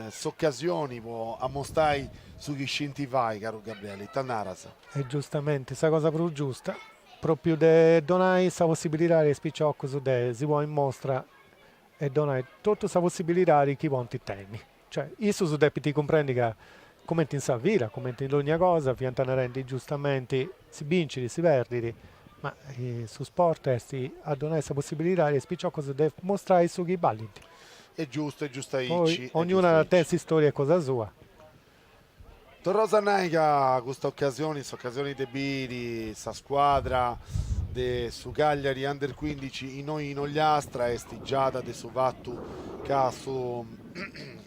S1: s'ocasioni po amostai su chi scinti fai, caru Gabriele, ita naras? E giustamenti, sa cosa prus giusta. Pròpriu de donai sa possibilidadi a is piciocus de si ponni in mostra e donai totu sa possibilidadi chi podint tenni. Cioè, issus depint cumprendi ca, cumenti in sa vida, cumenti in dogna cosa, fiant narendi giustamenti, si bincit, si perdit, ma su sport est a donai sa possibilidadi a is piciocus de mostrai su chi ballint. Est giustu, est giustu aici. Poi, ognunu tenit s'istória e cosa sua. Torraus a nai ca custa ocasioni, s'ocasioni de biri sa scuadra de su Cagliari Under Cuindici innoi in Ogliastra, est giai de su fatu ca su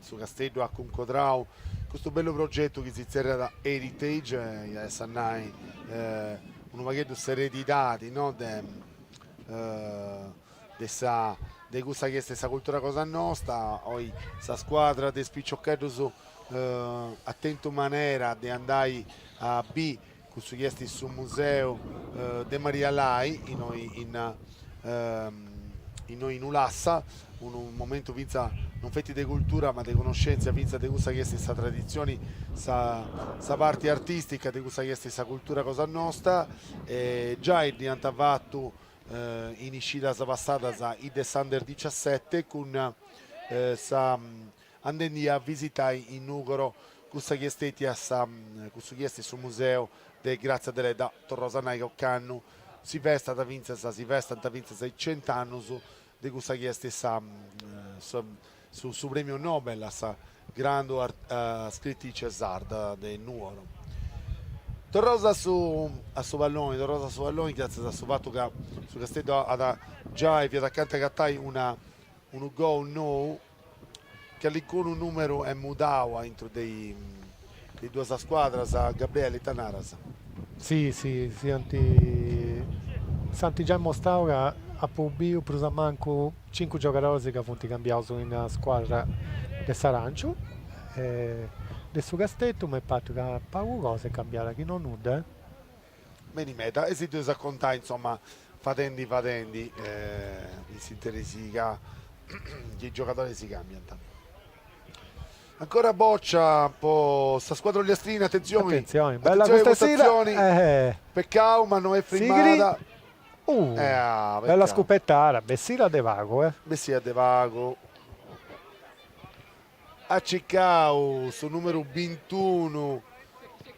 S1: su Casteddu at cuncodrau custu bellu progetu chi si tzerriat Heritage, iat essi a nai unu pagheddu s'eredidadi no de de sa de cussa chi est sa cultura cosa nosta oi sa scuadra de is piciocheddus at tentu manera de andai a bi cussu chi est su museu de Maria Lai innoi in innoi in Ulassa unu momentu finzas non feti de cultura ma de conoscèntzia finzas de cussa chi est sa traditzioni sa parti artistica de cussa chi est sa cultura cosa nosta e giai dd'iant fatu in iscidas passadas is de s'Under dixiasete cun sa andendi a visitai in Nùgoro cussa chi est stètia sa cussu chi est su museu de Gràtzia Deledda. Torraus a nai ca ocannu si festat fintzas si festant fintzas is cent'annus de cussa chi est sa Su su Prèmiu Nobel a sa grandu scritice sarda de Nuoro. Torraus a su a su palloni, torraus a su palloni gratzias a su fatu ca su Casteddu at giai fiat acanta agatai unu unu gol nou, calincunu numeru est mudau aintru de Is duas scuadras, Gabriele, ita naras? Si, si, si ant, s'ant giai mostrau ca apu biu prus a mancu cincu giogadoris ca funt cambiaus in una scuadra de s'Aranciu e de su Casteddu, m'est partu ca pagu cosa est cambiada, chi no nudda. Beni meda e si ddu eus a contai insoma fadendi fadendi is interessus chi is giogadoris si cambiant. Ancora bòcia po sa scuadra ollastrina, atentzioni, peccau ma no est frimmada. Bella scupetada, bessida de pagu, eh. Bessida de pagu. at cicau su numeru bintunu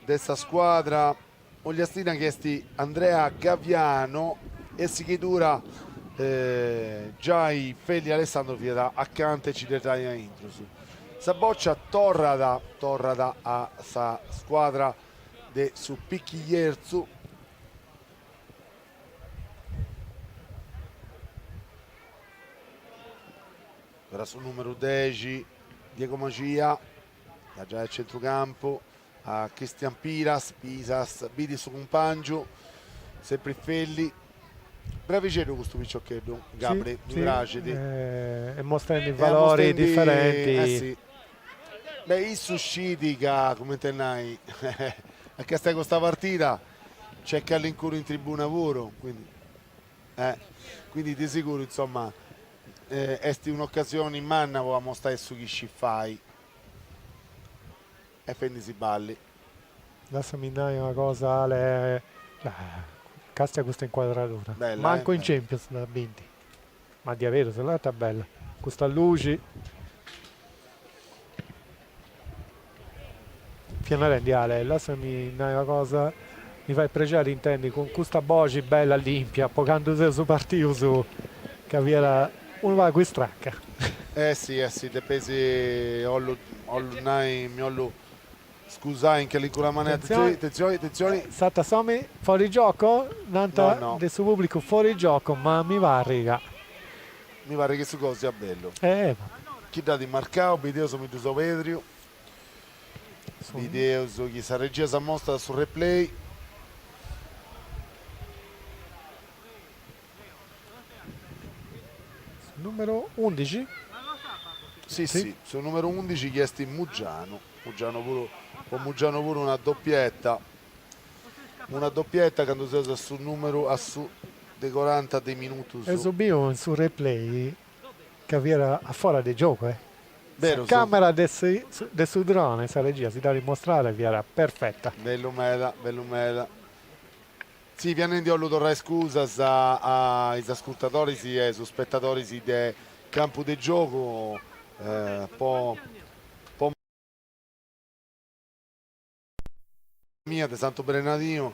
S1: de sa scuadra ogliastina chi est Andrea Gaviano e a sighidura giai Felli Alessandro fiat acanta e ci dda ghetai aintrus. Sa bòcia torrat torrat a sa scuadra de su Pichillerzu, Ancora su numeru dexi Diego Maxia, dda giait a centru campu a Cristian Piras, Piras bidit su cumpàngiu, sempri Felli, bravixeddu custu piciocheddu, Gabri, mi praxit. Est mostendi valori diferenti. Eh si. Beh, issu scit ca, cumenti a nai, a castiai custa partida nc'est calincunu in tribuna puru, quindi. Quindi de seguru insomma est un'ocasioni manna po amostai su chi scit fai e est fendi si balli. Lassami nai una cosa Ale, castia custa incuadradura, mancu in Champions nd'as biu, ma diaderus la ta bella custa luxi. Fia narendi a, Ale, lassami nai una cosa, mi fait prexeri intendi cun custa boxi bella limpia po candu seus partius ca fiat unu pagu istraca. Eh si, eh si, depeis, ollu, ollu nai, mi ollu scusai in callincuna manera, atentzioni, atentzioni, atentzioni. S'at a s'omi fuori gioco? Nant de su publicu fuori gioco, ma mi parrit ca. Mi paret chi su gol siat bellu. Chini dd'at marcau, bideus mi ddu seu perdiu, bideus chi sa regia si amostat su replay. Su numeru undixi? Si si, su numeru undixi chi est Mugianu, Mugianu puru, po Mugianu puru una doppietta. Una doppietta candu seus a su numeru a su de coranta de minutus. Eus biu in su replay ca fiat a fora de giogu e. Sa camera de de su drone, sa regia, si dd'at mostrada e fiat perfetta. Bellu meda, bellu meda. Si, fia nendi 'ollu torrai scusas a is ascurtadoris e is ispettadoris de Campu de Giogu po. mia de Santu Brenadinu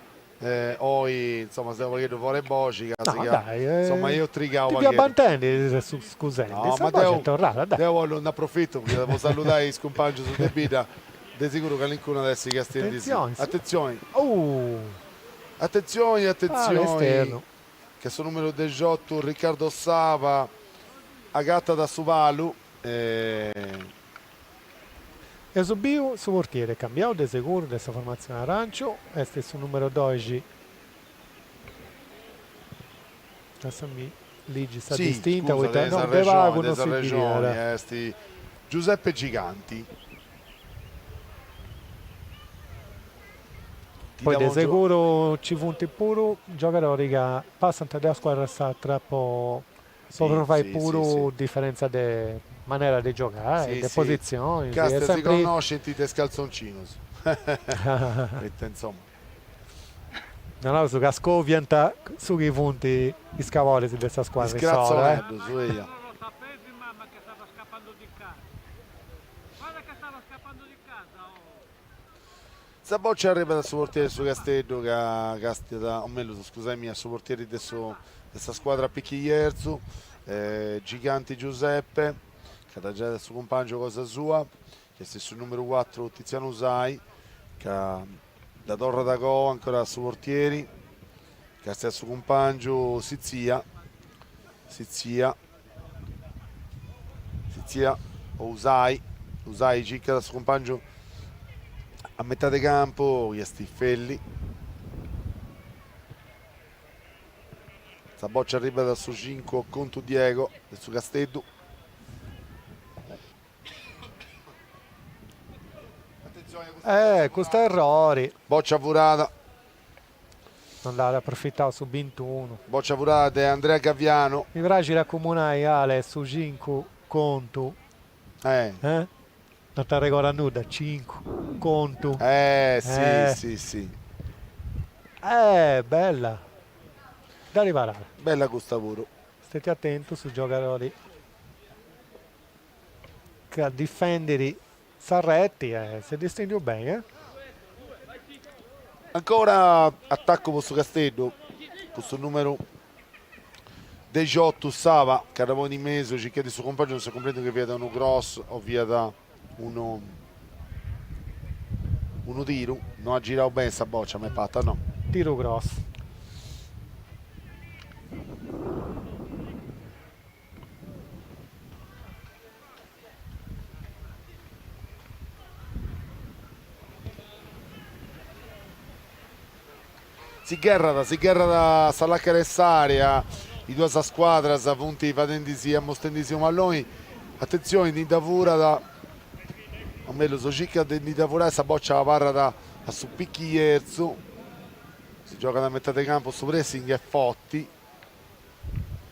S1: oi insomma seu u' pagheddu fora 'e boxi ca si ca insomma eus trigau u' pagheddu. Ti fia bantendi e chi ti ses scusendi, no ma deu deu 'ollu nd'aprofittu poita de po salludai is cumpangius de bidda de siguru calincunu at essi chi est castiendi. Attenzione attenzioni attenzioni attenzioni ca su numeru dexottu Riccardo Saba agattat su palu e Eus biu su portiere est cambiau de seguru de sa formatzione aranciu, est su numero doxi, lassami ligi sa distinta, si, scusa, poita de sa de pagu Regioni, de non sa si bi Regioni, bidiat. est Giuseppe Giganti. Ti Poi de davo gio- seguru nci funt puru giogadori ca passant de una scuadra a s'atra po po podi fai puru diferentza de manera de giogai, de positzioni. Bastat, si connoscint de is caltzoncinus. Poita insoma. Naraus ca scoviant su chi funt is caloris de sa scuadra issoro, eh. Sa bòcia arribat a su portieri de su Casteddu ca castiat, o mellus, scusai mia, a su portieri de su de sa scuadra Picchi Jerzu, Giganti Giuseppe, ca dda giait a su cumpàngiu cosa sua, chi est su nùmeru cuatru Titzianu Sai, ca dda torrat a coa ancora a su portieri, castiat su cumpàngiu Sitzia, Sitzia, Sitzia o Usai, Usai circat a su cumpàngiu a metà de campu, chi est Felli. Sa bòcia arribat a su cincu Contu Diego de su Casteddu. Eh, custu errori. Bòcia furada. No nd'at aprofitau su bintunu. Bòcia furada de Andrea Gaviano. Mi praxit a cumunai, Ale, su cincu Contu. Eh. Eh? Non t'arregodas nudda? Cincu. Contu. Eh, si, si, si. Eh, bella. Dda riparada. Bella custa puru. Stètiu atentu, su giogadori ch'at a difèndiri sa reti e s'est distèndiu beni. Ancora atacu po su Casteddu, cun su nùmeru dexiotu Saba, ca dda ponit in mesu, circhendi su cumpangiu, non si cumprendit chi fiat unu cross o fiat unu unu tiru, no at girau beni sa bòcia, m'est parta, no? Tiru cross. Si gherrat, si gherrat a sa làcara 'e s'àrea, is duas scuadras funt fadendi-si, amostendi-si unu a loi, atentzioni ndi dda furat, o mellus circat de ndi dda furai, sa bòcia abarrat a su Picchi Jerzu, si giogat a metà de campu, su pressing est forti.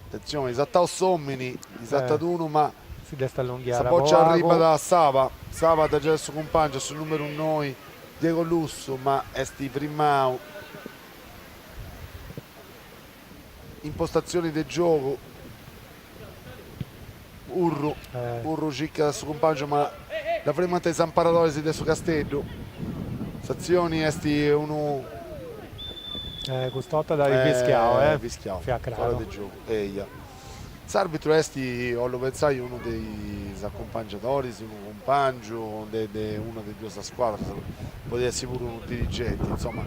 S1: Atentzioni, sartau s'omini, ndi sartat unu ma sa boccia arribat a Saba, Saba dda giat a su cumpangiu, a su numeru noi, Diego Lussu ma est frimau. Impostatzioni de giogu. Urru, Urru circat a su cumpàngiu ma dda frimant is amparadoris de su Casteddu. S'atzioni est unu. Eh, custa 'orta dd'at fischiau, eh. Fischiau, fiat craru. Fora de giogu, eia. S'àrbitru est, 'ollu pentzai, unu de is acumpangiadoris, unu cumpàngiu de de una de is duas scuadras, podiat essi puru unu dirigenti. Insoma,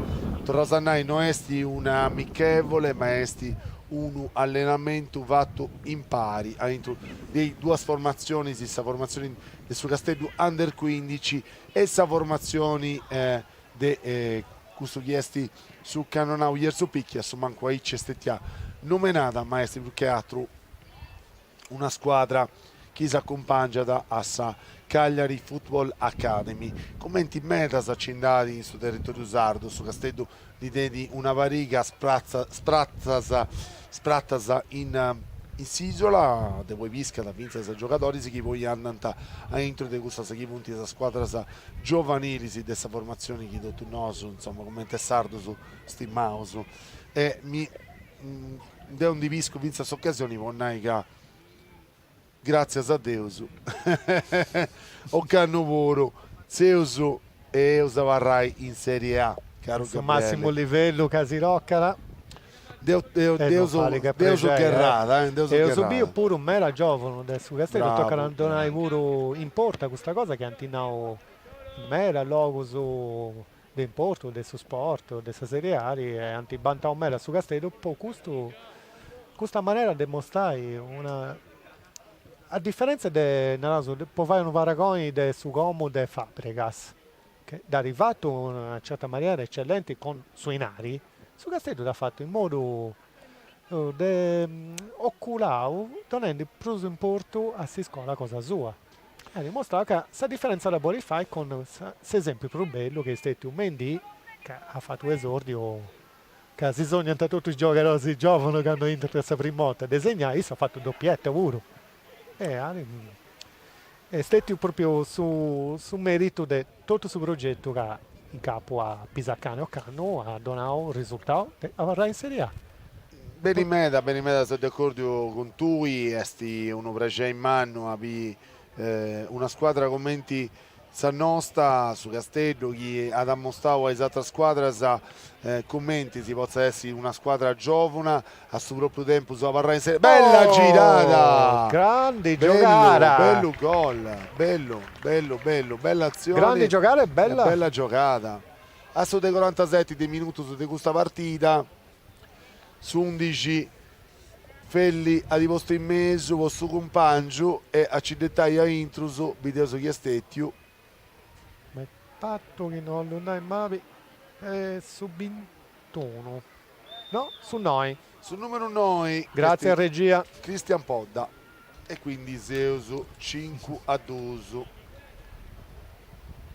S1: torraus a nai, no est una amichevole ma est unu allenamentu fatu impari a intru de is duas formatzionis, sa formatzioni de su Casteddu Under quindici e sa formatzioni de custu chi est su Cannonau Jerzu Picchi, a su mancu aici est stetia nomenada ma est prus che atru una scuadra chi s'acumpàngiat a sa Calliari Football Academy. Cumenti medas ci nd'at in su territòriu sardu, su Casteddu ndi tenit una pariga spratas in s'ìsula, de aundi piscat fintzas giogadoris chi poi andant a intro de cussas chi funt sas scuadras giovanilis de sa formatzioni chi totus nosu, insoma, cumenti a sardos, stimaus e mi Deu ndi piscu fintzas s'ocasioni po nai ca gràtzias a Deus ocannu puru seus e eus abarrai in Serie A, caru Gabriele. Su màssimu livellu ca si tocat. Depeus gherrai. Eus biu puru meda giòvunu de su Casteddu, tocat a ddu nai puru, importa custa cosa chi ant nau in meda logus de importu de su sport, de sa Serie A, ant bantau meda su Casteddu po custu, custa manera de mostrai una, a diferentza de, naraus, po fai unu paragoni de su Como de Fabregas, chi dd'at fatu in una certa manera eccellenti cun su dinari, su Casteddu dd'at fatu in modu oculau donendi prus importu a s'iscola cosa sua. At dimustrau ca sa diferentza dda bolit fai cun s'esempiu prus bellu chi est stetiu Mendy ca at fatu un'esórdiu ca si sognant totus is giogadoris gióvunu candu intrant sa primu 'orta de segnai, issu at fatu doppietta puru Est stètiu pròpriu su su mèritu de totu su progetu ca in capu a Pisacane ocannu at donau risultau e abarrai in Serie A. Beni meda, beni meda, seu de acòrdiu cun tui, est unu prexei mannu a biri una scuadra cumenti Sa Nosta, su Casteddu, chi at amostau a is atras scuadras cumenti si potzat essi una scuadra giòvuna, e a su pròpriu tempus abarrai in Serie A. Bella girada! Grandi giogada! Bellu gol, bellu, bellu, bellu, bella atzioni. Grandi giogada e bella. Bella giogada. A su de corantaseti de minutus de custa partida. S'undixi, Felli at postu in mesu po su cumpàngiu e a ci detai a intrus, bideus chi est stètiu. Mi parit chi, no 'ollu nai mali, est su bintunu, no, su noi. Su nùmeru noi Gràtzias a sa regia. Christian Podda. E quindi seus cincu a duus.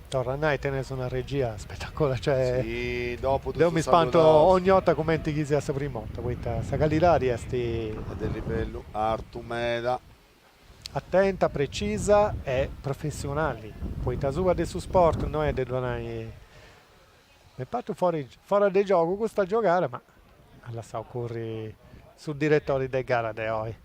S1: Torru a nai, teneus una regia spetacolari, cioè, deu mi spanto ogni 'orta cumenti chi siat sa prima 'orta, poita sa callidadi est. Est de livellu artu meda. Atenta, precisa e professionali, poita subra de su sport no est de ddu nai. M'est partu foras de giogu custa giogada ma at lassau curri su diretori de gara de oi.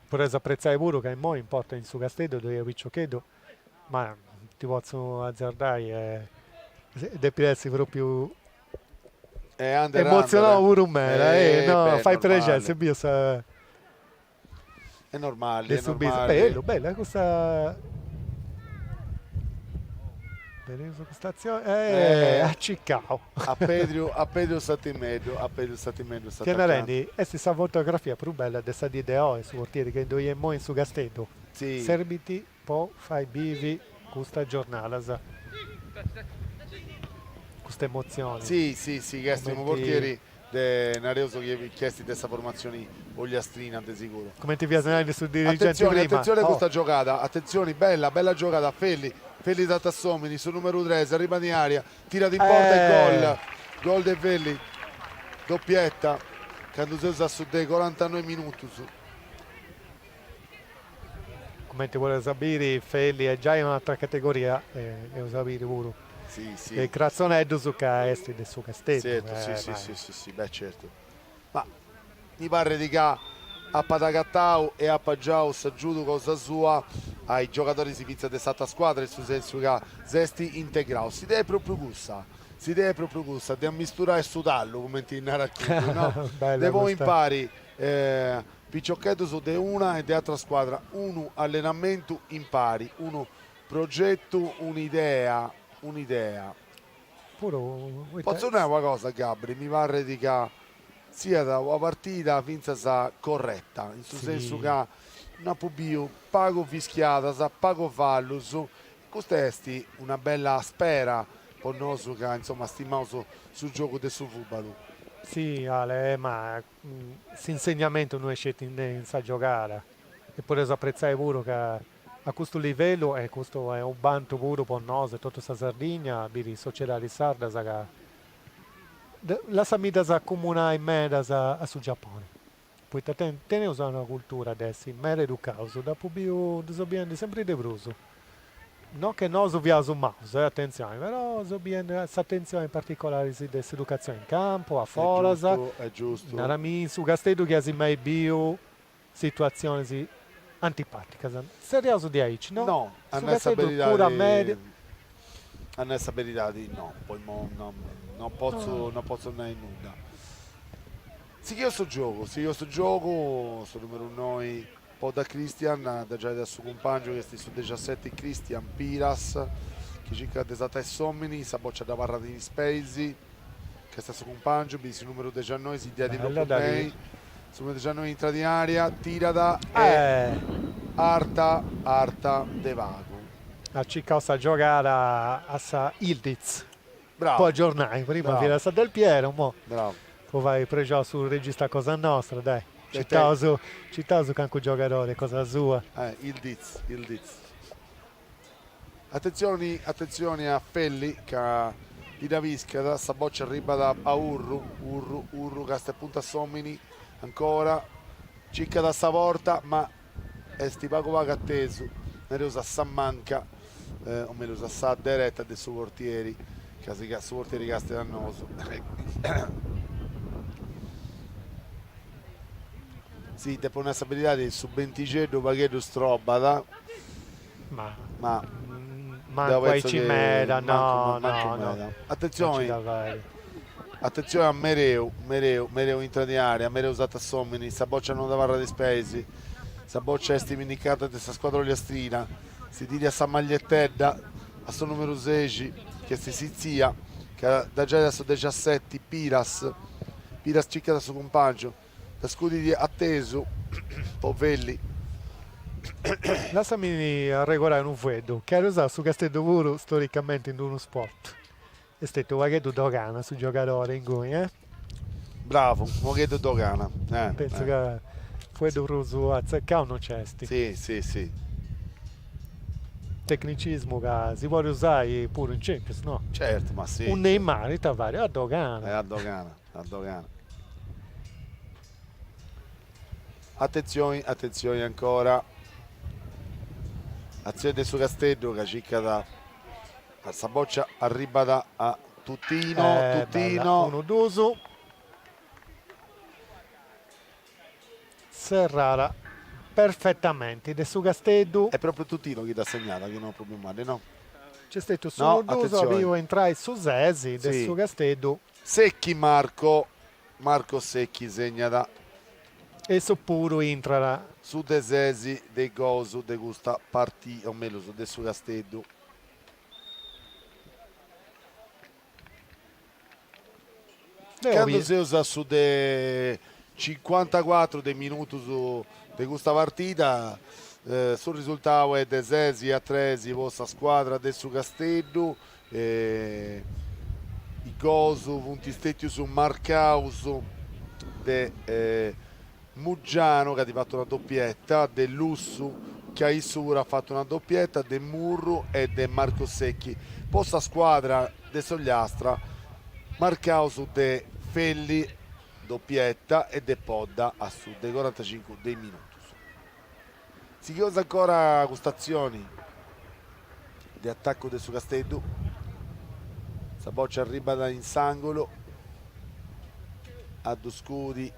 S1: Fait a apretzai puru ca immoi in porta in su Casteddu ddoi at piciocheddu ma ti potzu azzardai e depit essi propriu emozionau puru meda e no fait prexeri si biu sa Est normali, est normali. Bellu, bellu, eh, custa... Bella custa atzioni. Eh, eh, a Cicao. A Pedro, a Pedro Satimeddu, a Pedro Satimeddu fia narendi, est sa fotografia prus bella de sa dì de oi, su portieri chi ddoi est imoi in su Casteddu. Sì. Serbint po fai bivi custas giornadas custas emotzionis. Si, si, si chi est unu portieri de, nareus chi est de sa formatzioni ogliastrina de siguru. Cumenti fias narende su dirigenti prima. Atentzioni, atentzioni custa giogada, atentzioni, bella, bella giogada, Felli, Felli sartat s'omini, su numeru tres, arribat in area, tirat in porta e gol, gol de Felli, doppietta, candu seus a su de corantanoi minutus. Cumenti podeus biri Felli est giai in un'atra categoria eus a biri puru is cratzoneddus ca est de su Casteddu. Zertu, si si, beh certu. Ma mi parrit ca apat agatau e apat giau s'agiudu cosa sua a is giogadoris fintzas de s'atra scuadra in su sensu ca s'est integrau. S'idea est propriu cussa, s'idea est propriu cussa de ammisturai su tallu, cumenti narat cuddu, no, de poi impari Piciocheddus de una e de atra scuadra, unu allenamentu impari, unu progetu, un'idea, un'idea. Potzu nai una cosa Gabri, mi parrit ca siat una partida fintzas correta, in su sensu ca nd'apu biu pagu fischiadas, pagu fallus, custa est una bella spera po nosu ca insoma stimaus su giogu de su fubalu. Si Ale, ma S'insegnamentu no est sceti in sa giogada, e podeus apretzai puru ca a custu livellu, e custu est unu bantu puru po nosu e totu sa Sardigna, biri sociedadis sardas ca, lassami ddas acumunai medas a su Giapponi, poita teneus una cultura de essi meda educaus, dd'apu biu, ddu seu biendi sempri de prus No chi nosu fiaus maus, eh, atentzioni, però seu biendu s'atentzioni in particolari de s'educatzioni in campu, a foras, narami in su Casteddu chi asi mai biu situatzionis antipaticas. Zerriaus de aici, no? No, a nai sa beridadi, a nai sa beridadi no, po imoi no, no potzu, no potzu nai nudda. Sighiu su giogu, sighiu su giogu, su numeru noi Podda Christian dda giait a su cumpàngiu chi est su dexaseti Christian Piras chi circat de satai s'òmini sa bòcia dda abarrat in is peis càstiat su cumpàngiu biri su nùmeru dexannoi si diat in logu mei su nùmeru dexannoi intrat in àrea tirat est arta arta de pagu. At circau sa giogada a sa Yildiz. po aggiornai prima fiat sa Del Piero immoi po fai prexau su regista a cosa nostra dai citaus citaus cancu giogadori a cosa sua Ildiz Ildiz attenzioni attenzioni a Felli ca ndi piscat sa boccia arribbat a Urru Urru Urru castiat e puntat s'omini ancora circat sa porta ma est pagu pagu atesu, nareus a sa manca, o mellus a sa dereta de su portieri, ca si su portieri castiat a nosu. si depo nai sa beridadi su bentixeddu u' pagheddu strobat Ma Ma deo mancu pentzo chi aici meda, mancu, no, mancu no, no, meda. no ci Attenzioni, da fai. attenzioni a Mereu, Mereu, Mereu intrat in area, Mereu satat s'omini, sa boccia non dd'abarrat in is peis, sa boccia est pinnigada de sa scuadra ogliastrina, si diri a sa magliettedda, a su numeru sesi, chi est Sitzia, chi dda giait a su dexaseti, Piras, Piras circat a su cumpàngiu. Dda scudit atesu po Felli. Lassami arregorai unu fueddu, chi at usau su Casteddu puru storicamenti in d-unu spot. Est stetiu u pagheddu dogana su giogadori inguni, eh? Bravu, u pagheddu dogana, eh. Pentzu ca fueddu prus atzecau no nc'est. Si, si, si. Tecnicismu ca si podit usai puru in Champions, no? Certu, ma si. U Neymar ita farit? A dogana. Eh, a dogana. A dogana. Atentzioni, atentzioni ancora. Atzioni de su Casteddu ca circat sa bòcia, arribat a Tutino, Tutino. Unu duus serrau perfetamenti de su Casteddu. Est pròpriu Tutino chi dda segnat, chi no Pupimanni, no? Nc'est stetiu s'unu duus, at biu a intrai su ses de su Casteddu. Secchi Marco Marco Secchi segnat issu puru. Intrat su de ses de is gols de custa partida, o mellus de su Casteddu. Candu seus a su de cincuantacuatru de minutus de custa partida, su risultau est de ses a tres po sa scuadra de su Casteddu, e is gols funt stètius marcaus de Muggianu chi at fatu una dopietta, de Lussu chi issu puru at fatu una dopietta, de Murru e de Marco Secchi. Po sa scuadra de s'Ogliastra marcaus de Felli, dopietta, e de Podda a su de corantacincu de is minutus. Sigheus ancora custa atzioni de atacu de su Casteddu. Sa bòcia arribat in s'àngulu, a ddu scudi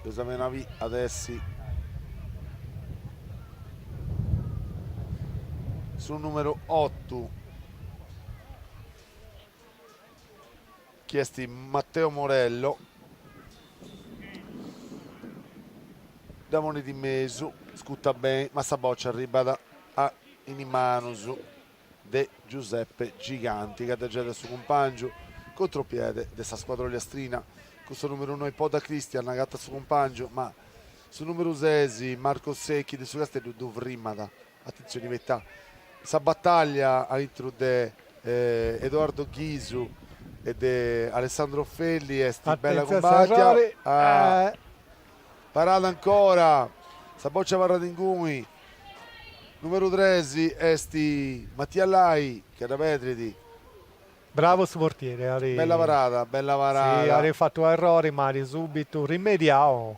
S1: de sa venabì at a essi su nùmeru otu, chi est Matteo Morello dda ponit in mesu scutat beni ma sa bòcia arribat in is manus de Giuseppe Giganti chi dda giogat a su cumpàngiu contropiede de sa scuadra ollastrina cun su nùmeru noi Podda Christian agatat a su cumpàngiu ma su nùmeru ses Marco Secchi de su Casteddu ddu firmat Atentzioni meda sa bataglia a intru de Edoardo Ghisu e de Alessandro Felli est bella cumbàtia, parada ancora, sa boccia abarrat inguni, numeru tres est Mattia Lai chi dda perdit, Bravo su portieri, bella parada, bella parada, at fatu unu errori ma at subitu rimediau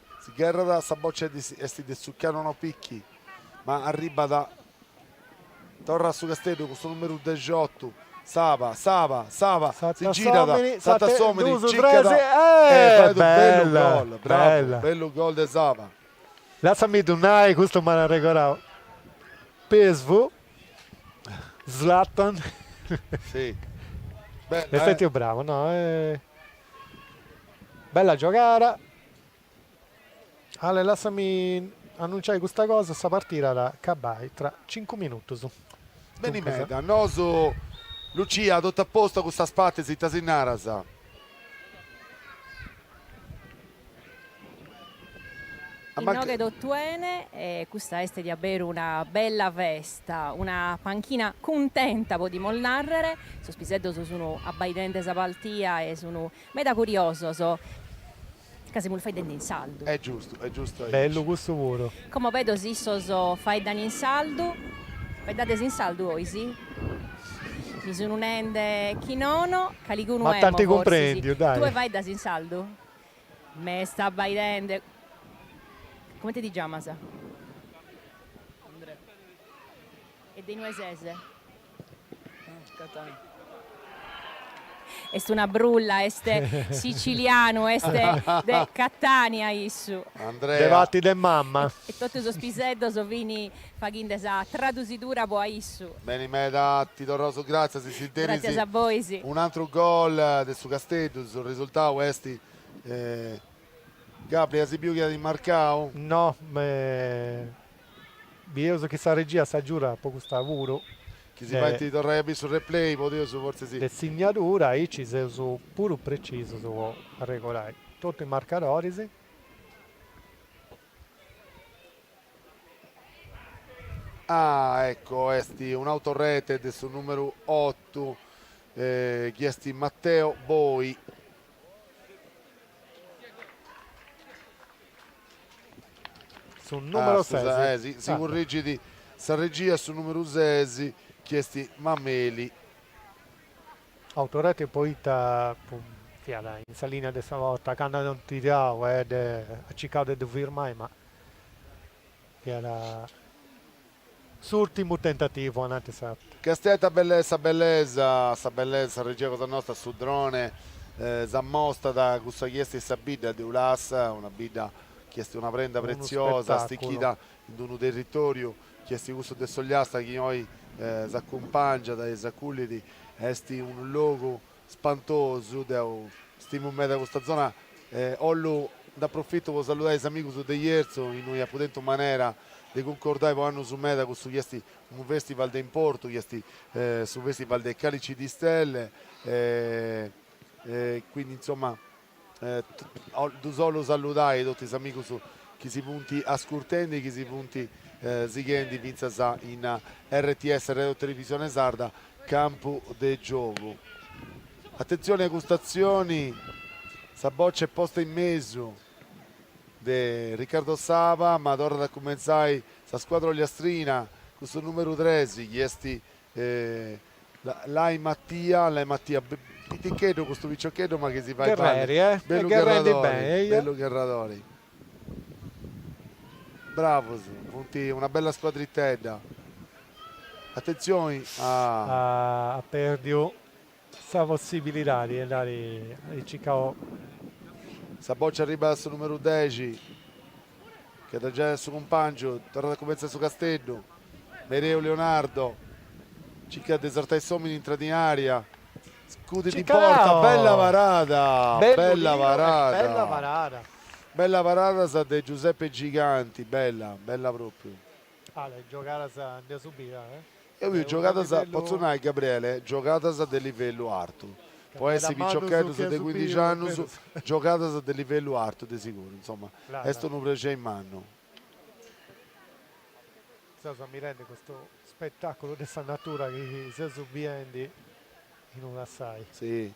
S1: Si gherrat sa bòcia est de Tzucchianu no picchi, ma arribbat, torrat su Casteddu cun su numeru dexiotu, Saba, Saba, Saba, si girat, sartat s'omini, ciccat e fait unu bellu gol, bravu, bellu gol de Saba. Lassami ddu nai, custu m'at arregorau Pesvu, Zlatan, est stetiu bravu, no, bella giogada. Ale lassami annunciai custa cosa, sa partida at a acabai tra cincu minutus. Beni meda, nosu, Lucia totu a postu a custas partis ita si naras? Inoghe totu 'ene e custa est diaberu una bella festa, una panchina cuntenta podimus narrer, sos piseddos sun abbaidende sa paltia e sun Meda curiosos, ca semus faeddende in sardu. Est giustu, est giustu aici. Bellu custu puru. Como bido si issos faeddan in sardu. Faeddades in sardu bois? Mi sun nende chi nono, caligunu emo forsis. Ma t'ant cumprendiu, dai. Tue faeddas in sardu? M'est abbaidende. Comente ti giamas? Andrea. E de inue ses? Catania. Est una brulla, est sicilianu, est de Catania issu. Andrea. De parti de mama. E totu sos piseddos fin faghinde sa tradusidura pro a issu. Beni meda, ti torraus gràtzias e a si biri. Gràtzias a bois. Un'antru gol de su Casteddu, su risultadu est. Gabri, as biu chi at marcau? No. Bieus chi sa regia s'agiudat po custa puru. Chi si faint torrai a biri su replay podeus fortzis. De sinnadura aici seus puru precisus po arregordai totu is marcadoris. Ah ecco est un'autorete de su numeru otu chi est Matteo Boi. Su numero sesi. Si currigit sa regia, su numeru sesi chi est Mameli. Autorete poita fiat in sa linea de sa porta, candu ant tirau e at circau de ddu firmai ma fiat S'urtimu tentativu, ananti s'at. Càstia ita bellesa sa bellesa, sa bellesa, sa regia cosa nosta, su drone s'ammostat cussa chi est sa bidda de Ulassa, una bidda chi est una prenda pretziosa stichida in d'unu territoriu chi est cussu de s'Ogliastra chi oi s'acumpàngiat e s'acullit, est unu logu Spantosu, deu stimu meda custa zona e 'ollu nd'aprofitai po saludai is amigus de Jerzu, innui apu tentu manera de cuncordai po annus meda cussu chi esti unu festival de importu, chi esti su festival de Calici di Stelle e quindi insomma Ddus 'ollu saludai totu is amigus chi si funt ascurtendi e chi si funt sighendi fintzas in RTS Radio Televisione Sarda Campu de Giogu. Atentzioni a custa atzioni, sa bòcia est posta in mesu de Riccardo Saba ma torrat a cumentzai sa scuadra ogliastrina cun su nùmeru tres chi est Lai Mattia, Lai Mattia, piticheddu custu piciocheddu ma chi si fait balli, bellu gherradori, bellu gherradori. Bravus, funt una bella scuadritedda. Attenzioni, at perdiu. sa possibilidadi de andai Cicau. Sa bòcia arribat a su numeru dexi, chi dda giait a su cumpàngiu, torrat a cumentzai su Casteddu, Mereu Leonardo, circat de sartai s'òmini intrat in ària, scudit in porta, bella parada, bella parada, bella parada sa de Giuseppe Giganti, bella, bella pròpriu. Eo biu giogadas, potzo nai Gabriele, giogadas de livellu artu, po essi piciocheddus de cuindixi annus, giogadas de livellu artu de siguru, insoma, est unu prexei mannu. Seus ammirendi custu spettaculu de sa natura chi seus biendi in Ulassai. Si.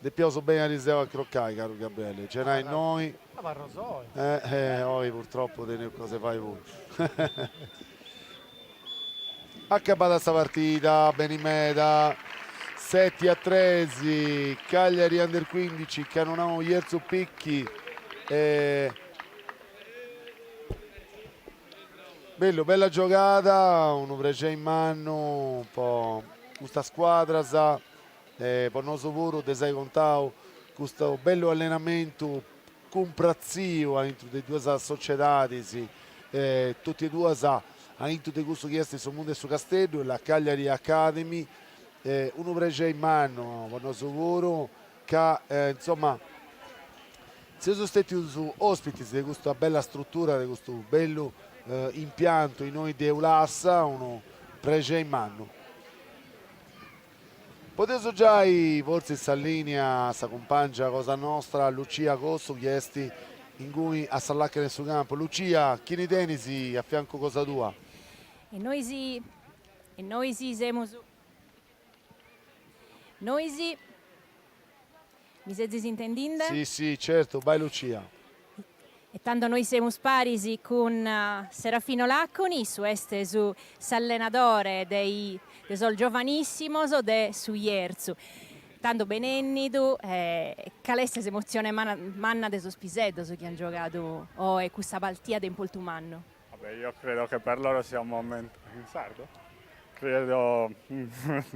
S1: Depiaus beni ariseu a crocai, caru Gabriele, cenai innoi. Abarro soi. Eh, eh, oi purtroppu teneus cosa 'e fai puru. Acabada sa partida, beni meda, seti a tres, Cagliari Under 15, Cannonau Jerzu Picchi e... Bellu, bella giogada, unu prexei mannu po custas scuadras. e po nosu puru de si ai contau custu bellu allenamentu cumpratziu aintru de duas sociedadis e totu e duas aintru de cussu chi est su mundu 'e su Casteddu e la Cagliari Academy est unu prexeri mannu po nosu puru ca insomma seus stetius ospitis de custa bella strutura de custu bellu impiantu innoi de Ulassa unu prexeri mannu. Podeus giai fortzis sa lìnia a sa cumpàngia cosa nostra Lucia Cossu chi est inguni a sa làcana 'e su campu. Lucia, chini tenis a fiancu cosa tua? E nois e nois semus nois. Mi sezis intendinde? Si, si, certu, bai Lucia. E tando nois semus paris cun Serafino Laconi, su est su s'allenadore de i de sos giovanissimos de su Jerzu. Tando benennidu e cale est s'emotzione manna de sos piseddos chi an giogadu oe cussa partida de importu mannu? Ah beh, io credo che per loro sia un momento in sardo? Credo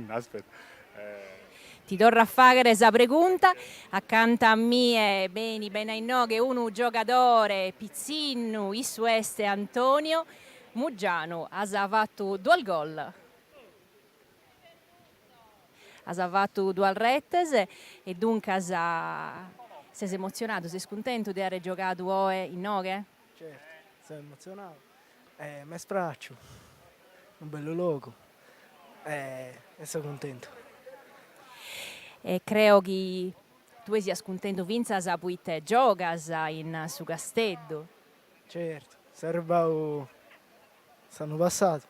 S1: aspetta eh. Ti torro a faghere sa pregunta, accanta a mie beni beni a innoghe unu giogadore pizzinnu, issu est Antonio Muggianu, as fattu duas gol, as fattu duas retes e duncas ses emotzionadu, ses cuntentu de àere giogadu oe innoghe? Certu, seu emotzionau e m'est pràciu, unu bellu logu e seu cuntentu. E creo chi tue sias cuntentu fintzas proite giogas in su Casteddu. Certu, seu arribau s'annu passadu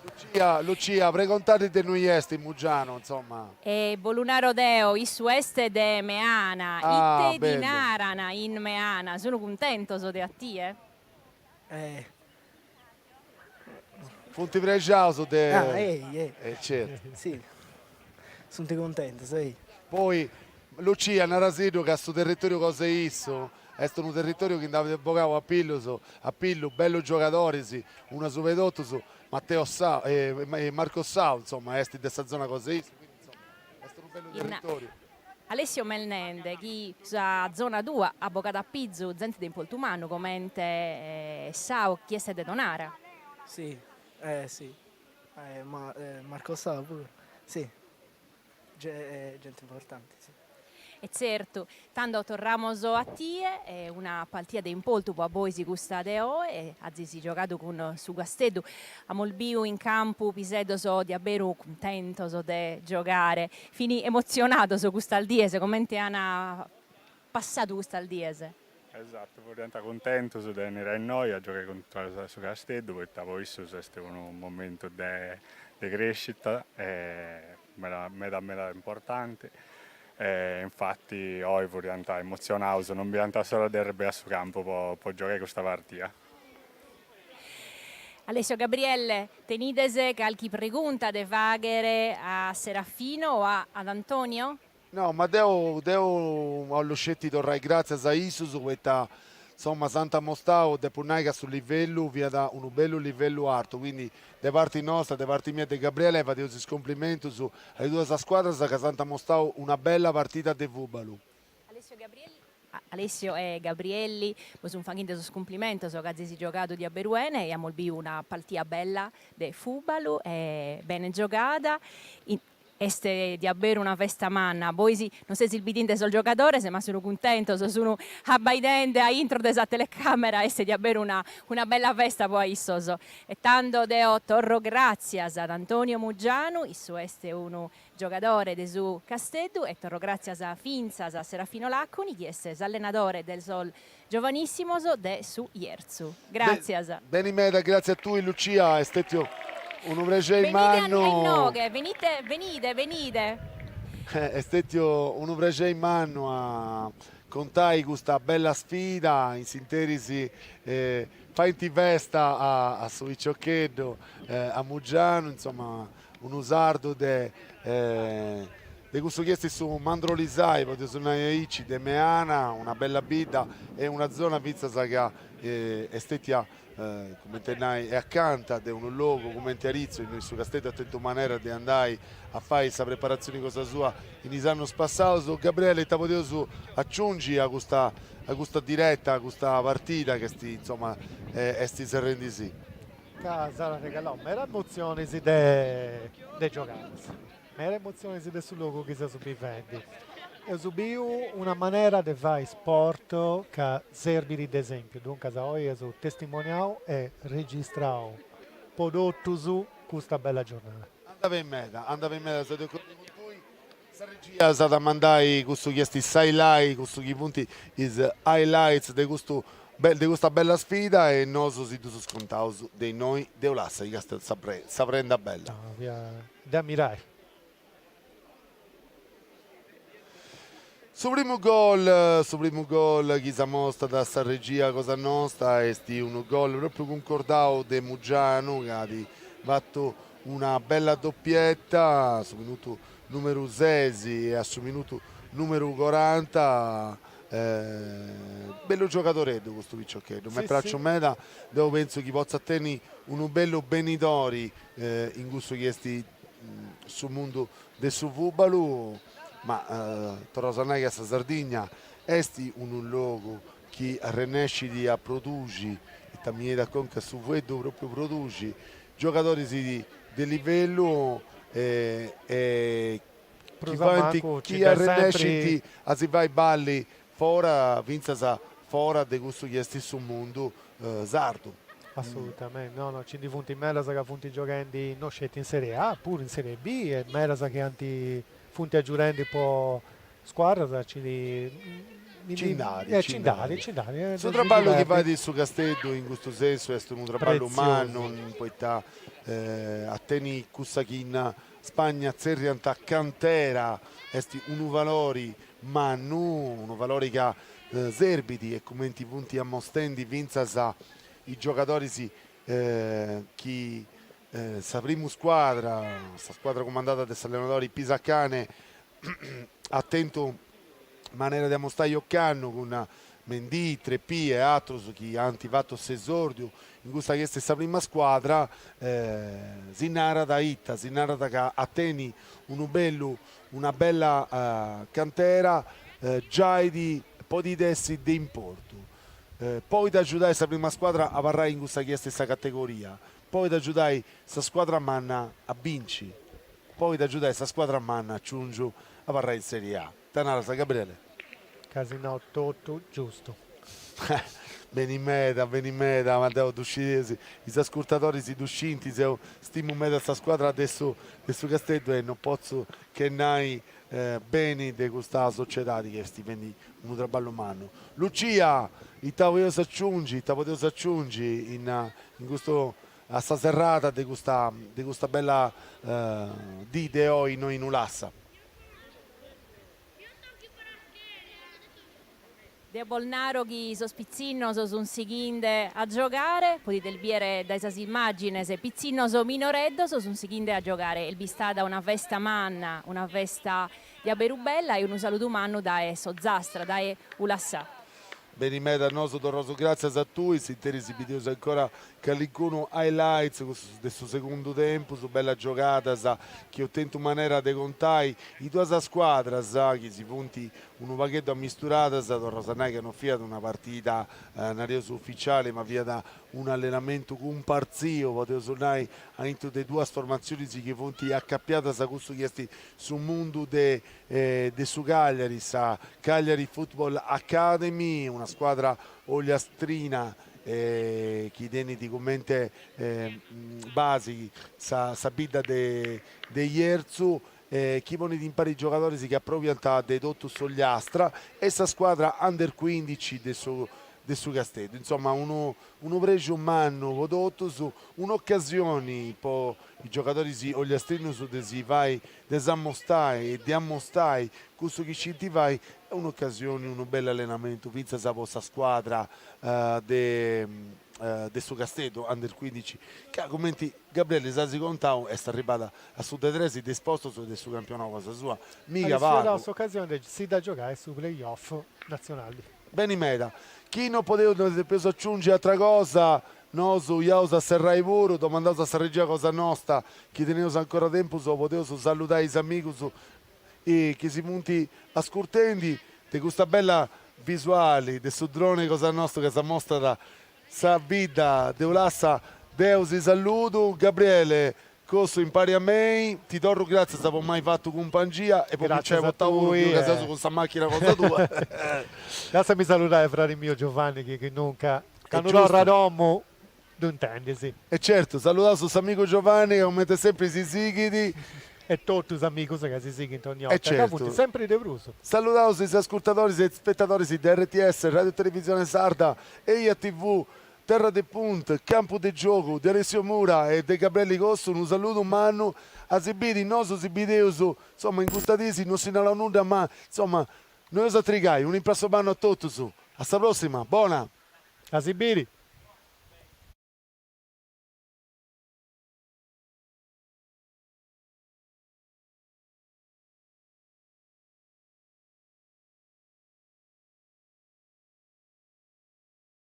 S1: Lucia, Lucia, pregontadi de innui est Mugianu, insomma. E bo lu naro deo, issu est de Meana, ite ti naran in Meana, sun cuntentos de a tie? Funt prexaus de... Ah, ei, ei. E certu. Si, sunt cuntentus, ei. Poi, Lucia, narasiddu ca su territoriu cosa issu, est unu territoriu chi nd'at bogau a pillus, a pillu, bellus giogadoris, unu a suba 'e totus, Matteo Sa..., Marco Sau, insoma, est de sa zona cosa issu, quindi, insoma, est unu bellu territoriu. Alessio est nende chi sa zona tua at bogadu a pizu zente de importu mannu comente Sau chi est de Tonara. Si si Marco Sau puru si genti importanti si. E tzertu. Tando torramus a tie, una partia de importu po a bois custa de oe, azis giogadu cun su Casteddu, amus biu in campu piseddos diaberu cuntentos de giogare, Fin emotzionados custas dies, comente an passadu custas dies? Esatu, furiant cuntentus de benniri a innoi a giogai cuntra a su Casteddu poita po issus est unu momentu de de crescita meda meda meda importanti e infati oi furiant emotzionaus, non bidiant s'ora de arribbai a su campu po po giogai custa partia. Alessio Gabriele tenides calchi pregunta de fagher a Serafino o a ad Antonio? No, ma deo deo 'ollu sceti torrai gràtzias a issus poita insomma s'ant amostadu, depo nai ca su livellu fiat unu bellu livellu artu, quindi de parti nostra, de parti mia e de Gabriele fadeus is cumplimentus a is duas scuadras ca s'ant amostadu una bella partida de fùbalu. Alessio Gabriele Alessio e Gabriele bos sun faghende sos cumplimentos ca azis giogadu diaberu 'ene e amos biu una partia bella de fùbalu e bene giogada est diaberu una festa manna bois non sezis bidende sos giogadores ma sun cuntentos sun abbaidende a intro de sa telecamera est diaberu una una bella festa po a issos e tando deo torro gràtzias ad Antonio Muggianu issu est unu giogadore de su Casteddu e torro gràtzias fintzas a Serafino Làconi chi est s'allenadore de sos giovanissimos de su Jerzu. Gràtzias. Beni meda, gràtzias a tui Lucia, est stètiu unu prexeri mannu. Benide a inoghe, benide, benide, benide. Est stètiu unu prexeri mannu a contai custa bella sfida, in s'interis faint festa a su piciocheddu, a Mugianu, insoma, Unu sardu de de cussu chi est su Mandrolisai, podius ddu nai aici, de Meana, una bella bidda e una zona fintzas ca est stetia, cumenti a nai, e acanta de unu logu cumenti Aritzu, innoi su Casteddu at tentu manera de andai a fai sa preparatzioni cosa sua in is annus passaus. Gabriele, ita podius aciungi a custa a custa direta, a custa partida ca est, insoma, est serrendi si? Ca s'at regalau meda emotzionis de giogadas, meda emotzionis de su logu chi seus bivendi. Eus biu una manera de fai sport ca serbit de esempiu, duncas oi eus testimoniau e registrau po totus custa bella giornada. Andabit meda, andabit meda sa de cuddu cun tui. Sa regia s'at a mandai cussu chi est s'highlight, cussu chi funt is highlights de custu de custa bella sfida e nosu si ddus contaus de innoi de Ulassa chi est custa sa sa prenda bella. No, fiat de amirai. Su primu gol, su primu gol chi s'amostat sa regia cosa nosta est unu gol propriu cuncordau de Mugianu ca at fatu Una bella doppietta a su minutu numeru ses e a su minutu numeru coranta, bellu giogadoreddu custu piccioccheddu, m'est praciu meda, deu pentzu chi potzat tenni unu bellu benidori in cussu chi est su mundu de su fùbalu, ma torraus a nai ca sa Sardigna est unu logu chi arrennescit a produxi, ita mi benit a conca su fueddu propriu produxi, giogadoris de livellu e e chi faint, chi arrennescint a si fai balli fora, fintzas fora de cussu chi est su mundu sardu. Assolutamente, no no, nci ndi funt medas ca funt gioghendi no sceti in Serie A, puru in Serie B e medas chi ant, funt gioghendi po Scuadras ci ndi. Ci nd'at, ci nd'at. Nd'at, ci nd'at. Su traballu chi fait su Casteddu in custu sensu est unu traballu mannu poita a tenni cussa chi in Spagna tzerriant cantera est unu valori mannu, unu valori ca serbit e cumenti funt amostendi fintzas is giogadoris de sa primu scuadra, sa scuadra cumandada de s'allenadori Pisacane at tentu manera de amostai ocannu cun Mendì, Trepì e atrus chi ant fatu s'esòrdiu in custa chi est sa prima scuadra, si narat ita, si narat ca a tenni unu bellu, una bella cantera, giai ti podit essi de importu. Poita agiudat sa prima scuadra a abarrai in cussa chi est sa categoria, Poit agiudai sa scuadra manna a binci, poit agiudai sa scuadra manna a ciungiu abarrai in Serie A. Ita naras Gabriele? As nau totu giustu. Beni meda, beni meda, ma deu ddu scidia, is ascurtadoris ddu scint, deu stimu meda sa scuadra de su de su Casteddu e no potzu che nai beni de custa sociedadi chi est fendi Unu traballu mannu. Lucia, Ita podeus aciungi, ita podeus aciungi in in custu a sa serrada de custa de custa bella dì de oi innoi in Ulassa? Deo naro chi sos pitzinnos sun sighinde a giogare, podides bìdere dae sas immàgines, pitzinnos minoreddos sun sighinde a giogare, est bistada una festa manna, una festa Dia beru bella e unu saludu mannu dae s'Ozastra, dae Ulassà. Beni meda, nosu torraus gràtzias a tui, s'interi si bideus ancora calincunu highlights de su segundu tempus, bellas giogadas chi eus tentu manera de contai, is duas scuadras chi si funt unu pagheddu amisturadas, torraus a nai ca no fiat una partida nareus uficiali ma fiat un'allenamentu cumpartziu podeus nai a intru de duas formatzionis chi funt acapiadas a cussu chi est su mundu de de su Cagliari, sa Cagliari Football Academy, una scuadra ollastrina chi tenit comente basi sa sa bidda de de Jerzu e chi ponit impari giogadoris chi aprobiant de totu s'ollastra e sa scuadra under cuindici de su de su Casteddu, insoma unu Unu prexu mannu po totus, un'ocasioni po is giogadoris ogliastrinus de si fai, de s'amostai e de amostai cussu chi scint fai e un'ocasioni, unu bellu allenamentu fintzas po sa scuadra de su Casteddu Under cuindici ca cumenti Gabriele s'at contau est arribada a su de tres de is postus de su campionau cosa sua. Miga pagu. Est arribada s'ocasioni de si dda giogai su playoff natzionali. Beni meda. Chi no podeus no si depeus aciungi atra cosa, nosu iaus a serrai puru, domandaus a sa regia cosa nosta, chi teneus ancora tempus po podeus salludai is amigus chi si funt ascurtendi de custa bella visuali de su drone cosa nosta ca s'amostrat sa bidda de Ulassa, deu si salludu, Gabriele Cun tui impari a mei. Ti torru gràtzias po m'ai fatu cumpangia e po mi nc'ai potau oi in cabesusu cun sa màchina cosa tua. Lassami saludai fradi miu Giovanni chi chi nunca, candu torru a domu, ddu intendis. E certu, saludaus a s'amigu Giovanni ca comente sempri si sighit. E totu is amigus ca si sighint ogni 'orta, ca funt sempri de prus. Saludaus is ascurtadoris e is spetadoris de rts, Ràdiu Televisione Sarda, Eia TV, Terra de Punt, campu de giogu, de Alessio Mura e de Gabrielli Costu unu saludu mannu a si biri, nosu s'intendeus, insomma in custa dì chi no si nau nudda ma insomma no eus a trigai, unu imprassu mannu a totus, a sa prossima, bona. A si biri.